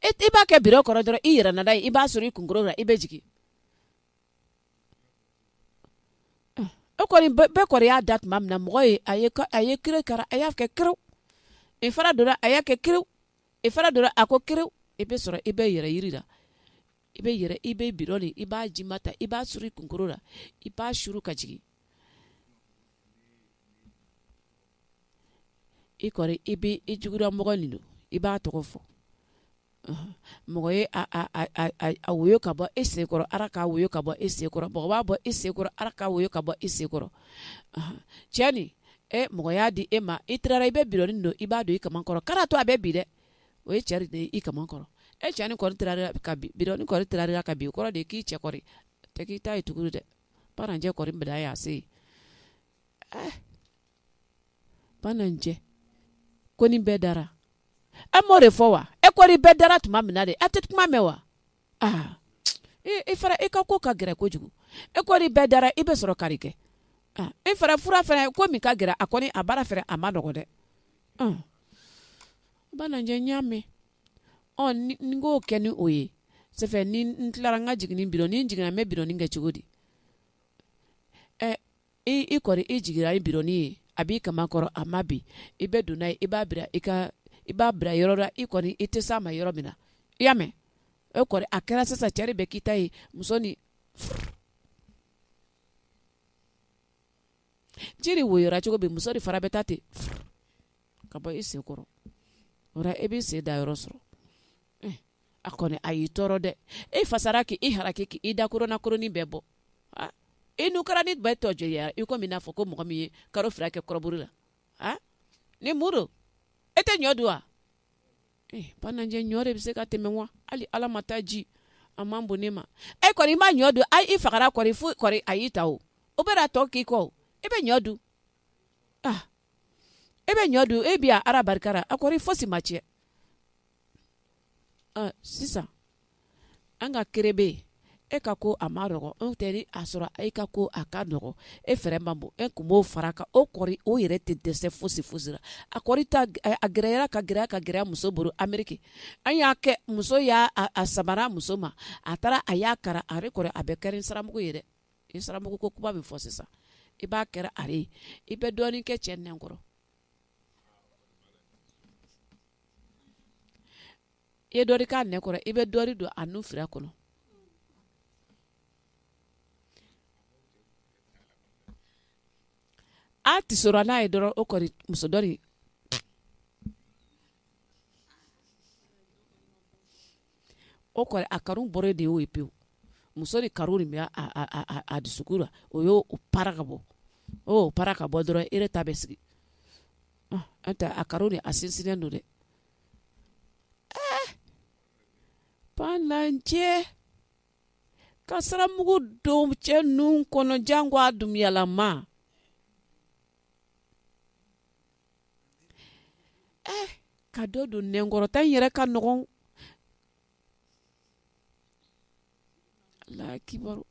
e i b'a kɛ bidɔn kɔnɔ dɔrɔn i yɛrɛ nada i b'a suru i kunkolo la i bɛ jigin e kɔni bɛɛ kɔrɔ y'a da tuma min na mɔgɔ ye a a ye kira kɛra a y'a kɛ kira i fara donna a y'a kɛ kira i fara donna a ko kira i bɛ sɔrɔ i bɛ yɛlɛ yiri la i bɛ yɛlɛ i bɛ bidɔn de i b'a jima ta i b'a suru i kunkolo la i b'a suru ka jigin i kɔrɔ i bɛ i juguda mɔgɔ nin don i b'a tɔgɔ fɔ mɔgɔ ye a woyo ka bɔ e senkɔrɔ ala k'a woyo ka bɔ e senkɔrɔ mɔgɔ b'a bɔ e senkɔrɔ ala k'a woyo ka bɔ e senkɔrɔ cɛ nin e mɔgɔ y'a di e ma i tilara i bɛ bidɔnnin don i b'a don i kaman kɔrɔ k'a to a bɛ bi dɛ o ye cɛ de ye i kaman kɔrɔ e cɛ ni kɔni tilara ka bi o kɔrɔ de k'i cɛ kɔni tɛ k'i ta ye tugu dɛ bananjɛ kɔni bɛɛ da y'a se bananjɛ kɔni bɛɛ dara e m'o de fɔ wa e kɔni bɛɛ dara tuma min na de a tɛ kuma mɛn wa aa e fara e ka ko ka gɛrɛ kojugu e kɔni bɛɛ dara i bɛ sɔrɔ kari kɛ e fara fura fana ko min ka gɛrɛ a kɔni a baara fɛrɛ a ma nɔgɔ dɛ bananjɛ n y'a mɛn n k'o kɛ ni o ye sɛfɛ ni n tilara n ka jigin biro ni n jiginna n bɛ bironin kɛ cogo di i kɔni i jiginra i bironin ye a b'i kaman kɔrɔ a ma bi i bɛ don n'a ye i b'a i b'a bila yɔrɔ la i kɔni i tɛ sa ma yɔrɔ min na i y'a mɛn e kɔni a kɛra sisan cɛ de bɛ k'i ta ye muso ni ji de woyora cogo bɛ muso de fara bɛ taa ten ka bɔ i sen kɔrɔ e b'i sen da yɔrɔ sɔrɔ a kɔni a y'i tɔɔrɔ dɛ e fasara k'i haraki k'i da koronakoronin bɛɛ bɔ e n'u kɛra ni bɛɛ tɔ jɛya i komi n'a fɔ ko mɔgɔ min ye kalo fila kɛ kɔrɔburu la a ni muru e tɛ ɲɔ dun wa bananjɛ ɲɔ de bɛ se ka tɛmɛ wa hali ala ma taa ji a man bon ne ma e kɔni i ma ɲɔ dun i fagara kɔni fo a y'i ta o o bɛ tɔ k'i kɔ e bɛ ɲɔ dun ah e bɛ ɲɔ dun e bɛ a ara barika ra a kɔni fosi ma cɛn ah, sisan an ka kere bɛ yen e ka ko a ma nɔgɔ anw tɛ a sɔrɔ e ka ko a ka nɔgɔ e fɛɛrɛ man bon e kun b'o fara kan o kɔni o yɛrɛ tɛ dɛsɛ fosi fosi la a kɔni ta a gɛrɛyara ka gɛrɛ ka gɛrɛ muso bolo ameriki an y'a kɛ muso y'a a samara muso ma a taara a y'a kara a kɔni a bɛɛ kɛra saramugu ye dɛ i saramugu ko kuma bɛ fɔ sisan i b'a kɛra a ye i bɛ dɔɔnin kɛ cɛ nɛn kɔrɔ i ye dɔɔnin k'a nɛn kɔrɔ i bɛ dɔɔnin don a nun fira kɔnɔ a tɛ sɔrɔ n'a ye dɔrɔn o kɔni muso dɔ de o kɔni a kanu bɔra de y'o ye pewu muso de kanu de bɛ a dusukun la o y' o para ka bɔ o para ka bɔ dɔrɔn e ta bɛ sigi an tɛ a kanu de a sinsinnen don dɛ bananjɛ ka saramugu don cɛ nun kɔnɔ janko a dumuyalama eh, ka dɔ don nɛnkɔrɔta in yɛrɛ ka nɔgɔn Ala kibaru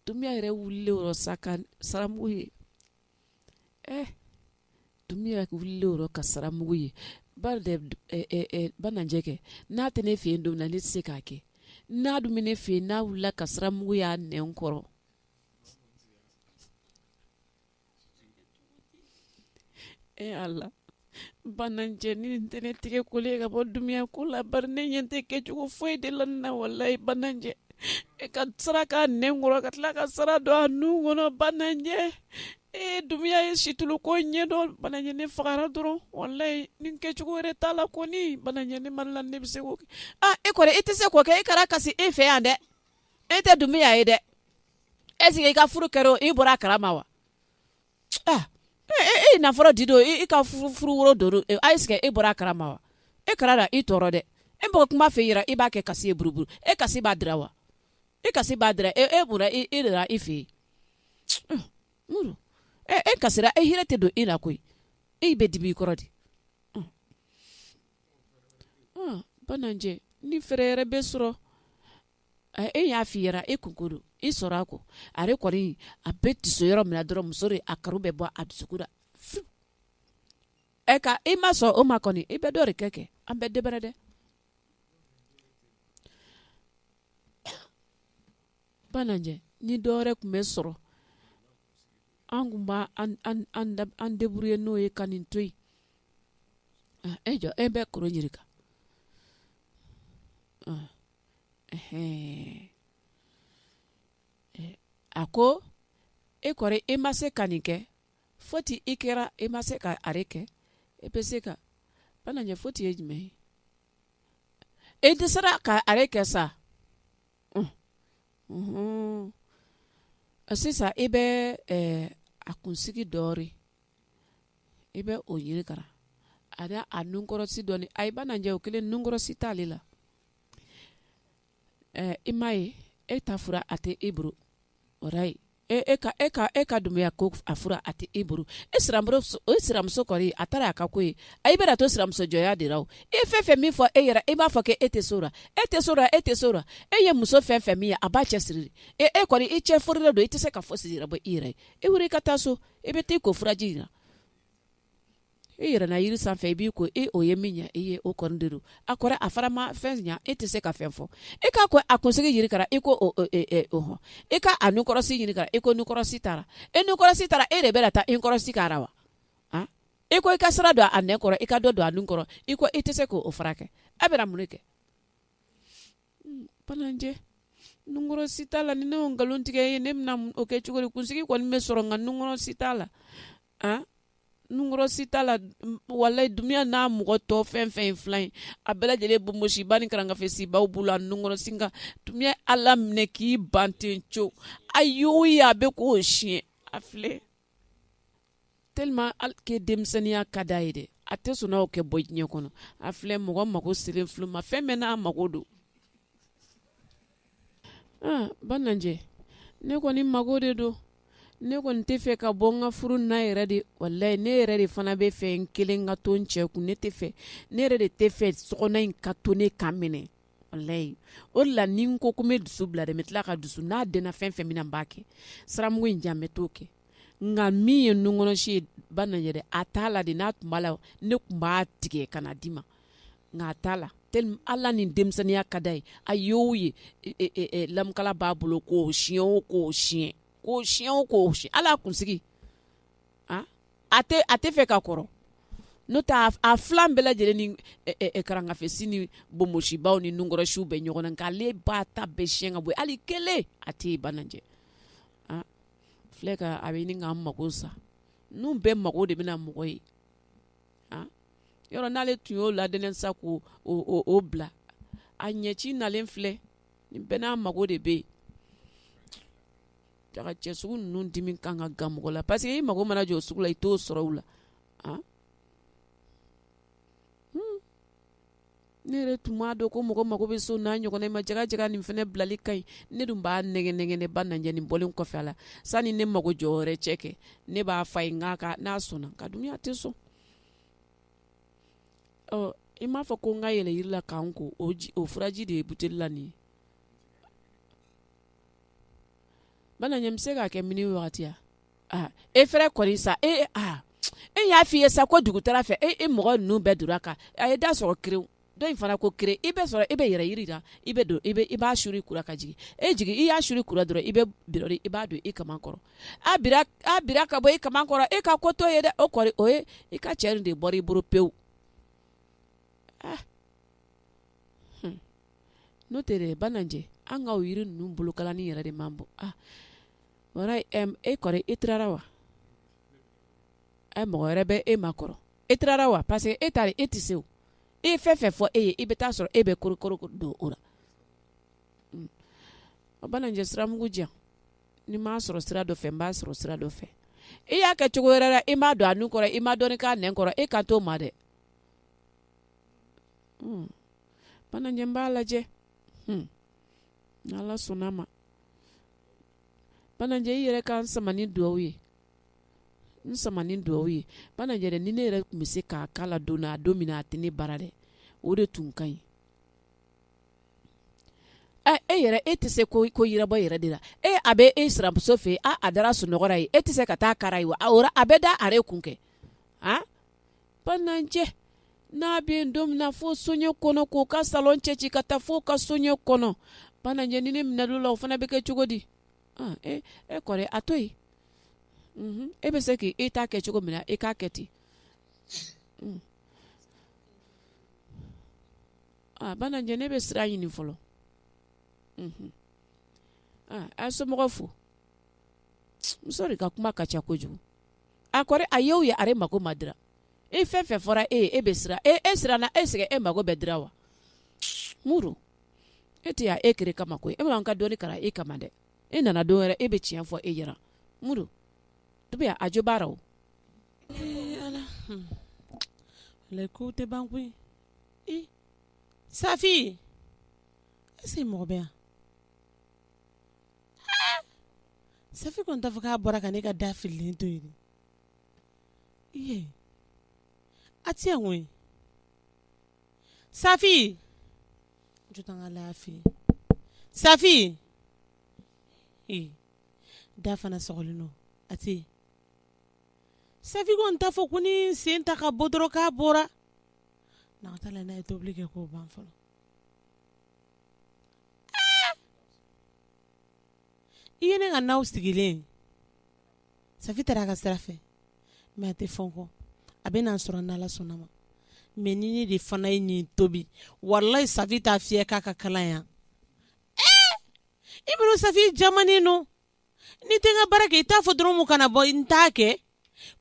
dumiya yɛrɛ wulilen o rɔ sa ka saramugu ye eh dumiya wulilen o rɔ ka saramugu ye ba de eh, eh, eh, banajɛ kɛ n'a tɛ ne fɛ yen don min na ne tɛ se k'a kɛ n'a dun bɛ ne fɛ yen n'a wulila ka saramugu y'a nɛn kɔrɔ Ee Ala bananjɛ nin tɛ ne tigɛ kolen ka bɔ dumuya ko la bari ne ɲɛ tɛ kɛcogo foyi de la nin na walayi bananjɛ e ka sara k'a nɛn kɔrɔ ka tila ka sara don a nun kɔnɔ bananjɛ e dumuya ye situlu ko ɲɛdɔn bananjɛ ne fagara dɔrɔn walayi ni kɛcogo wɛrɛ t'a la kɔni bananjɛ ne ma la ne bɛ se k'o kɛ e kɔni e tɛ se k'o kɛ e kana kasi e fɛ yan dɛ e tɛ dumuya ye dɛ est-ce que i ka furu kɛra o i bɔra a kala ma wa ah, e, e, e nafolo di don i ka furu woro don est-ce que e bɔra a kala ma wa e kana i tɔɔrɔ dɛ e mɔgɔ kuma fɛ jira i b'a kɛ kasi ye buruburu e kasi b'a dira wa e kasi b'a dira e e bɔra i de la i fɛ yen e kasira e hinɛ tɛ don ne la koyi e bɛ dimi i kɔrɔ de bananjɛ ni fɛɛrɛ yɛrɛ bɛ sɔrɔ e y'a fɔ i yɛrɛ e kunko don e sɔrɔ a ko are kɔni a bɛ don so yɔrɔ min na dɔrɔn muso de a kanu bɛ bɔ a dusukun la ɛ ka e ma sɔn o ma kɔni e bɛ dɔ wɛrɛ kɛ kɛ an bɛ daɛrɛ dɛ banajɛ ni dɔ wɛrɛ tun bɛ sɔrɔ an tun b'an débrouiller n'o ye ka nin to yen e jɔ e bɛ kɔrɔ ɲininka a ko e kɔni e ma se ka nin kɛ foti e kɛra e ma se ka are kɛ e bɛ se ka bananjɛ foti ye jumɛn ye e dɛsɛra ka are kɛ sa sisan i bɛ a kunsigi dɔɔnin i bɛ o ɲini ka na a a nunkɔrɔsi dɔɔnin ayi bananjɛ o kelen nunkɔrɔsi t'ale la ɛɛ i m'a ye e ta fura a tɛ e bolo o ye e e ka e ka e ka dumuya ko a fura a tɛ e bolo e siramuso o siramuso kɔni a taara y'a ka ko ye a i bɛna to siramuso jɔya de la o e fɛn fɛn min fɔ e yɛrɛ e b'a fɔ k'e e tɛ so la e tɛ so la e tɛ so la e ye muso fɛn fɛn min ye a b'a cɛ siri e e kɔni i cɛ furulen don i tɛ se ka fɔ siri bɔ i yɛrɛ e wili i ka taa so e bɛ taa i ko furaji in na e yɛlɛnna yiri sanfɛ i b'i ko e o ye min ɲɛ e ye o kɔni de don a kɔrɔ a fara ma fɛn ɲɛ e tɛ se ka fɛn fɔ e k'a ko a kunsigi ɲini ka na e ko hɔn e, e, e, e ka a nunkɔrɔsi ɲini ka na e ko nunkɔrɔsi t'a la e nunkɔrɔsi t'a la e de bɛ taa nunkɔrɔsi k'a la wa e ko i ka sira don a nɛn kɔrɔ i ka dɔ don a nun kɔrɔ i ko e tɛ se k'o furakɛ a bɛ mun kɛ hmm, bananjɛ nunkɔrɔsi t'a la ni ne y'o nkalon tigɛ ye ne bɛna o kɛ cogo di kunsigi kɔni bɛ sɔrɔ nka nunkɔrɔsi t'a la an nunkɔrɔsi t'a la walayi Dumuya n'a mɔgɔ tɔ fɛn fɛn filan ye a bɛɛ lajɛlen bonbonsiba ni karangafesibaw b'u la nunkɔrɔsi nka Dumuya ala minɛ k'i ban ten co a y'o ye a bɛ k'o siɲɛ a filɛ tellement que denmisɛnninya ka d'a ye dɛ a tɛ sɔn n'aw kɛ bɔ diɲɛ kɔnɔ a filɛ mɔgɔ mago selen filɛ u ma fɛn bɛɛ n'a mago don Bananjɛ ne kɔni mago de don ne kɔni tɛ fɛ ka bɔ n ka furu na yɛrɛ dɛ walayi ne yɛrɛ de fana bɛ fɛ n kelen ka to n cɛ kun ne tɛ fɛ ne yɛrɛ de tɛ fɛ so in ka to ne ka minɛ walayi o la ni n ko n bɛ dusu bila dɛ n bɛ tila ka dusu n'a d fɛn fɛn min na n b'a kɛ siramugu in jan n bɛ t'o kɛ nka min ye nunkɔrɔsi ye bananjɛ a t'a la dɛ n'a tun b'a la ne tun b'a tigɛ ka na d'i ma nka a t'a la tellement Ala ni denmisɛnninya ka d'a ye a ye o ye lamukala b'a bolo k'o siyɛn o k'o siyɛn k'o siyɛn o k'o siyɛn hali a kunsigi a tɛ a tɛ fɛ ka kɔrɔ n'o tɛ a filan bɛɛ lajɛlen ni karangafesi ni bonbonsibaw ni nunkɔrɔsiw bɛ ɲɔgɔn na nka ale b'a ta bɛɛ siyɛn ka bɔ yen hali kelen a tɛ yen bananjɛ a filɛ ka a bɛ ɲini k'an mago sa ninnu bɛɛ mago de bɛna mɔgɔ ye yɔrɔ n'ale tun y'o ladɛnɛ sa k'o bila a ɲɛci nalen filɛ nin bɛɛ n'a mago de bɛ yen jaga cɛ sugu ninnu dimi kan ka gan mɔgɔ la parce que i mago mana jɔ o sugu la i t'o sɔrɔ u la ne yɛrɛ tun m'a dɔn ko mɔgɔ mago bɛ s'o n'a ɲɔgɔnna ma jaga jaga nin fana bilali ka ɲi ne dun b'a nɛgɛnnɛgɛn bananjɛ nin bɔlen kɔfɛ Ala sani ne mago jɔ wɛrɛ cɛ kɛ ne b'a f'a ye n'a sɔnna nka Dumuya tɛ sɔn ɔ i m'a fɔ ko n ka yɛlɛ yiri la ka n ko o o furaji de ye buteli la nin ye bananjɛ n bɛ se k'a kɛ min ni wagati e fɛrɛ kɔni sa e e y'a f'i ye sa ko dugutala fɛ e e mɔgɔ ninnu bɛɛ donna ka a ye da sɔgɔ kerew dɔ in fana ko kerew i bɛ sɔrɔ e bɛ yɛlɛ yiri la i bɛ don i i b'a suri i kun na ka jigin e jigin i y'a suri i kun na dɔrɔn i bɛ i b'a don i kaman kɔrɔ a bira ka bɔ i kaman kɔrɔ e ka ko t'o ye dɛ o kɔrɔ o ye i ka cɛ de bɔra i bolo pewu n'o tɛ bananjɛ an ka yiri ninnu bolokalani yɛrɛ de man bon e kɔrɔ e tirara wa e mɔgɔ wɛrɛ bɛ e ma kɔrɔ e tirara wa parce que e tari e tɛ se e ye fɛn fɛn fɔ e ye e bɛ taa sɔrɔ e bɛ korokoroko don o la o bananjɛ siramugu jan ni m'a sɔrɔ sira dɔ fɛ n b'a sɔrɔ sira dɔ fɛ e y'a kɛ cogo wɛrɛ la e m'a don a nun kɔrɔ i m'a don k'a nɛn kɔrɔ e kan t'o ma dɛ bananjɛ n b'a lajɛ ala sɔnna ma bananjɛ i yɛrɛ ka n sama ni dugawu ye n sama ni dugawu ye bananjɛ dɛ ni ne yɛrɛ tun bɛ se k'a kala la don a don min na a tɛ ne bara dɛ o de tun ka ɲi e yɛrɛ e tɛ se ko yirabɔ yɛrɛ de la e a bɛ e sinamuso fɛ a a dara sunɔgɔ ye e tɛ se ka taa kara ye wa a a bɛ da are kun kɛ bananjɛ n'a bɛ yen don min na fo soɲɛ kɔnɔ k'u ka salon cɛci ka taa fo ka soɲɛ kɔnɔ bananjɛ ni ne minɛna o la o fana bɛ kɛ cogo di e kɔrɔ a to yen e bɛ se k'i ta kɛ cogo min na e k'a kɛ ten bananjɛ ne bɛ sira ɲini fɔlɔ a somɔgɔw fo muso de ka kuma ka ca kojugu a kɔrɔ a y'o ye are mako ma dira e fɛn fɛn fɔra e e bɛ siran e e siranna e sɛgɛn e mako bɛ dira wa muru e tɛ' e kere kama koyi e b'an ka doni kara e kama dɛ e nana don wɛrɛ e bɛ tiɲɛ fɔ e yɛrɛ muru to bɛ a jo baara o ala ko tɛ ban koyi i safi e se mɔgɔ bɛ yan safi kɔni t'a fɔ k'a bɔra ka ne ka da fililen to yen a tɛ yan koyi safi safi da fana sɔgɔlen don a tɛ safi kɔni t'a fɔ ko ni sen ta ka bɔ dɔrɔn k'a bɔra n'a ka taa la n'a ye tobili kɛ k'o ban fɔlɔ i ye ne ka na sigilen safi taara a ka sira fɛ mais a tɛ fɔ kɔ a bɛ n'an sɔrɔ n'ala sɔnna ma mais ni ne de fana ye nin tobi wallahi safi t'a fiyɛ k'a ka kalan yan i bɛ safi jamanen don n'i tɛ n ka baara kɛ i t'a fɔ dɔrɔn min kana bɔ n t'a kɛ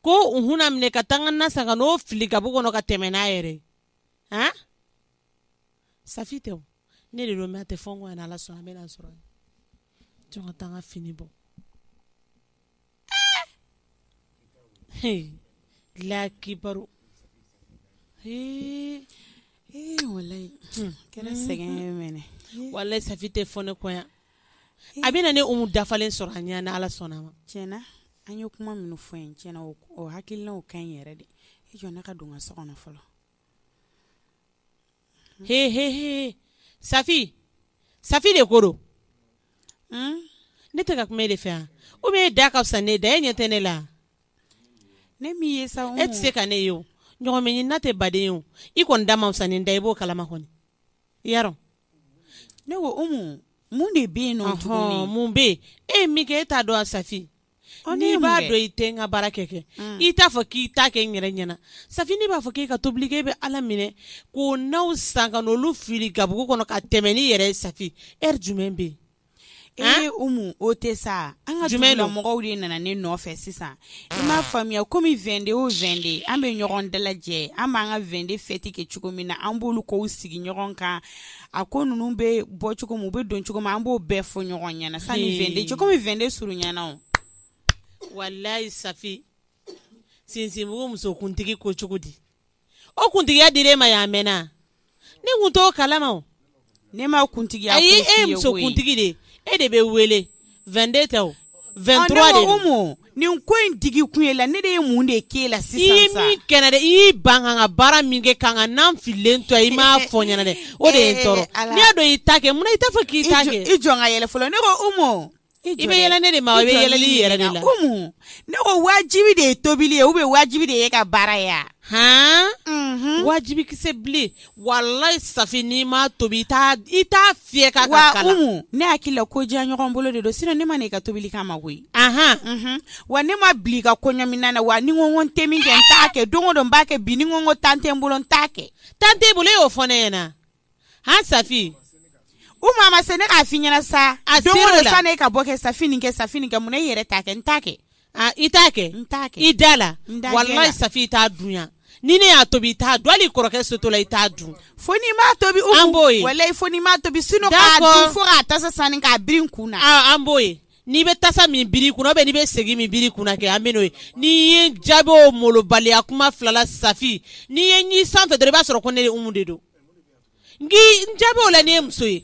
ko hun a minɛ ka taa ka na san n'o fili gabugu kɔnɔ ka tɛmɛ n'a yɛrɛ safi tɛ o ne de don mais a tɛ fɔ n kɔ yan n'ala sɔnna a bɛ na n sɔrɔ jɔ n ka taa n ka fini bɔ laki baro walayi kɛra sɛgɛn walayi safi tɛ fɔ ne kɔ yan a bɛ na ne umu dafalen sɔrɔ a ɲɛ n'ala sɔnna a ma tiɲɛna an ye kuma minnu fɔ in tiɲɛna o hakilina ka ɲi yɛrɛ de i jɔ ne ka don n ka so kɔnɔ fɔlɔ safi safi de ko don ne tɛ ka kuma e de fɛ yan ou bien e da ka fisa ne da e ɲɛ tɛ ne la ne ye e tɛ se ka ne ye o ɲɔgɔmɛ ɲinina tɛ baden ye o i kɔni da man fisa ni n da i b'o kalama kɔni i y'a dɔn ne ko umu mun de bɛ yen nɔ tuguni mun bɛ yen e ye min kɛ e t'a dɔn wa safi n'i b'a dɔn i tɛ n ka baara kɛ kɛ i t'a fɔ k'i t'a kɛ n yɛrɛ ɲɛna safi ne b'a fɔ k'i ka tobili kɛ e bɛ ala minɛ k'o nanw san ka olu fili gabugu kɔnɔ ka tɛmɛ n'i yɛrɛ ye safi heure jumɛn bɛ yen e o tɛ sa an ka dugula mɔgɔw de nana ne nɔfɛ sisan i m'a faamuya kɔmi 22 o 22 an bɛ ɲɔgɔn dalajɛ an b'an ka 22 fɛti kɛ cogo min na an b'olu kow sigi ɲɔgɔn kan a ko ninnu bɛ bɔ cogo min u bɛ don cogo min an b'o bɛɛ fɔ ɲɔgɔn ɲɛna sanni 22 cɛ kɔmi 22 surunyana o walayi safi sinsinbugu musokuntigi ko cogo di o kuntigiya dir'e ma yan mɛnna ne tun t'o kalama ne ma kuntigiya e musokuntigi de e de bɛ wele 22 tɛ o 23 de don, ɔ ne ko Umu nin ko in digi kun ye la ne de ye mun de k'e la sisan sa, i ye min kɛ n na dɛ, i y'i ban ka n ka baara min kɛ ka n ka nan fililen to yan i m'a fɔ n ɲɛna dɛ, o de ye n tɔɔrɔ, n'i y'a dɔn i t'a kɛ munna i t'a fɔ k'i t'a kɛ, i jɔ n ka yɛlɛ fɔlɔ, ne ko Umu i bɛ yɛlɛ ne de ma wa i bɛ yɛlɛli i yɛrɛ de la, Umu ne ko wajibi de ye tobili ye ou bien wajibi de ye e ka baara ye wa, han, unhun, wajibi kisɛ bilen, Walayi Safi n'i ma tobi i t'a fiyɛ ka wa Umu ne hakili la ko diya ɲɔgɔn bolo de don sinon ne ma na i ka tobili kama koyi wa ne ma bila i ka kɔɲɔminan na wa ni n ko n tɛ min kɛ n t'a kɛ don o don n b'a kɛ bi ni n ko tan tɛ n bolo n t'a kɛ tan tɛ i bolo i y'o fɔ ne ɲɛna a Safi Umu a ma se ne k'a f'i ɲɛna sa don o don i ka bɔ kɛ Safi kɛ mun ne yɛrɛ t'a kɛ n t'a kɛ I t'a kɛ i da la walayi safi i t'a dun yan ni ne y'a tobi i t'a dun hali kɔrɔkɛ so to la i t'a dun fo n'i m'a tobi an b'o ye walayi fo n'i m'a tobi sinon fo a tasa sanni k'a biri n kun na an b'o ye n'i bɛ tasa min biri kun na n'i bɛ segi min biri kun na kɛ an bɛ n'o ye n'i ye jaabi o malobaliya kuma fila la safi n'i ye ɲɛ san fɛ dɔrɔn i b'a sɔrɔ ko ne de umu de don n jaabi o la n'i ye muso ye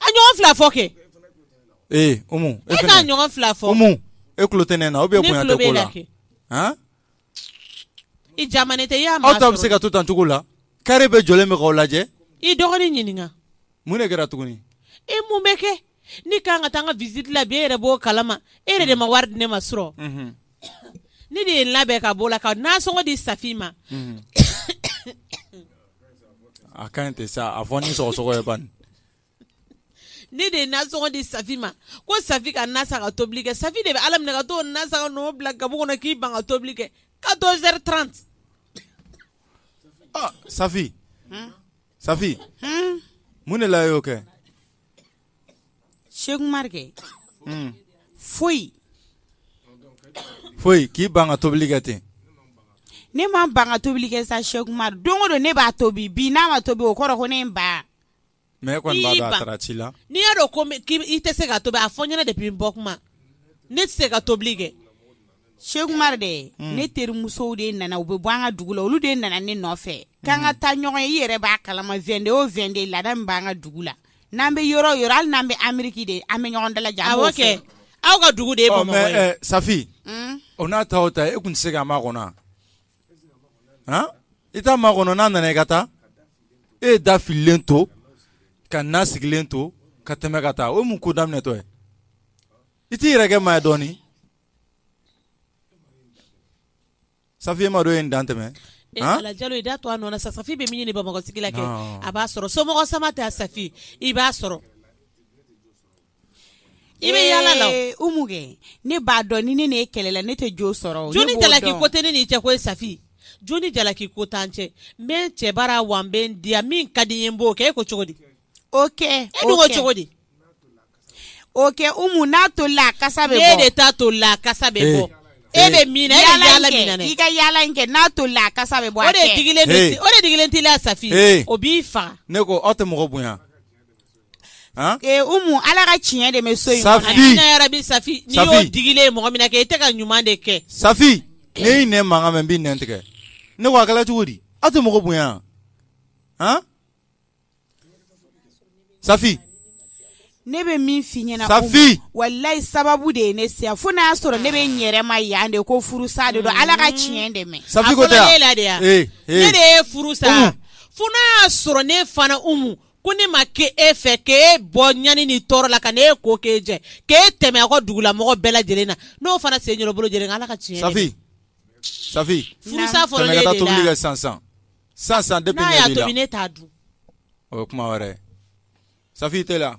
a ɲɔgɔn fila fɔ kɛ ee umu e e ka fɛnɛ- ɲɔgɔn fila fɔ umu e kulo tɛ ne na ou bien Ne bonya kulo tɛ b'e ko la la kɛ. han i jamane tɛ i y'a aw maa ta bɛ se sɔrɔ ka to tan cogo la kare bɛɛ jɔlen bɛ k'aw lajɛ i dɔgɔnin ɲininka mun de kɛra tuguni e mun bɛ kɛ ne kan ka taa n ka visite la bi e yɛrɛ b'o kalama e yɛrɛ de ma wari di ne ma surɔ Mhm. ne de ye n labɛn ka b'o la ka nasɔngɔ di safi ma Mhm. A ka ɲi tɛ sa a fɔ ni sɔgɔsɔgɔ ye bani ne de ye nasɔngɔ di Safi ma ko Safi ka na san ka tobili kɛ Safi de bɛ Ala minɛ ka t'o na san ka n'o bila gabugu kɔnɔ k'i ban ka tobili kɛ 14 heures 30 ɔ Safi Safi mun de la e y'o kɛ Sheikh Umaru kɛ foyi foyi k'i ban ka tobili kɛ ten ne ma ban ka tobili kɛ sa Sheikh Umaru don o don ne b'a tobi bi n'a ma tobi o kɔrɔ ko ne b'a mɛ ko a taara ci la n'i y'a dɔn i tɛ se k'a tobi a fɔ n ɲɛna depuis n bɔ kuma ne tɛ se ka tobili kɛ Sheikh Umaru de hmm. ne terimusow de nana u bɛ bɔ an ka dugu la olu de nana ne nɔfɛ hmm. k'an ka taa ɲɔgɔn ye i yɛrɛ b'a kalama 22 o 22 laada min b'an ka dugu la n'an bɛ yɔrɔ o yɔrɔ hali n'an bɛ Ameriki de an bɛ ɲɔgɔn dalajɛ aw ka dugu de oh, eh, safi hmm? o n'a ta o ta e tun tɛ se k'a makɔnɔ i t'a makɔnɔ n'a nana i ka taa e ye da fililen to ka na sigilen to ka tɛmɛ ka taa o ye mun ko daminɛtɔ ye i t'i yɛrɛ kɛ maa ye dɔɔnin Safi e m'a dɔn e ye dan tɛmɛ Ala jalo i da to a nɔ na sa safi bɛ min ɲini bamakɔ sigi la kɛ a b'a sɔrɔ somɔgɔ sama tɛ safi i b'a sɔrɔ i bɛ yala la umu kɛ ne b'a dɔn ni ne n'e kɛlɛla ne tɛ jo sɔrɔ jo ni jalaki ko tɛ ne ni cɛ ko safi jo ni jalaki ko t'an cɛ n bɛ n cɛ bara wa n bɛ n diya min ka di n ye n b'o kɛ e ko cogo di o kɛ e dun ko cogo di o kɛ umu n'a tolila a kasa bɛ bɔ ne de ta tolila a kasa bɛ bɔ e bɛ min na e bɛ yala min na i ka yala in kɛ n'a tolila a kasa bɛ bɔ o de digilen o de digilen t'i la safi o b'i faga ne ko aw tɛ mɔgɔ bonya ee umu ala ka tiɲɛ dɛmɛ so in safi amina yarabi safi n'i y'o digilen ye mɔgɔ min na kɛ i tɛ ka ɲuman de kɛ safi ne y'i nɛn mankan mɛn n b'i nɛn tigɛ ne ko a kɛla cogo di aw tɛ mɔgɔ bonya han Safi ne bɛ min f'i ɲɛna safi walayi sababu de ye ne se fo n'a y'a sɔrɔ ne bɛ n yɛrɛ ma yan de ko furusa de don ala ka tiɲɛ dɛmɛ safi ne de ye furu sa fo n'a y'a sɔrɔ ne fana umu ko ne ma kɛ e fɛ k'e bɔ ɲani ni tɔɔrɔ la ka n'e ko k'e jɛ k'e tɛmɛ a ka dugulamɔgɔ bɛɛ lajɛlen na n'o fana sen bolo lajɛlen ala ka tiɲɛ sa sisan depuis ɲɛ b'i la, n'a y'a tobi ne t'a dun, o ye kuma wɛrɛ ye, Safi i teliya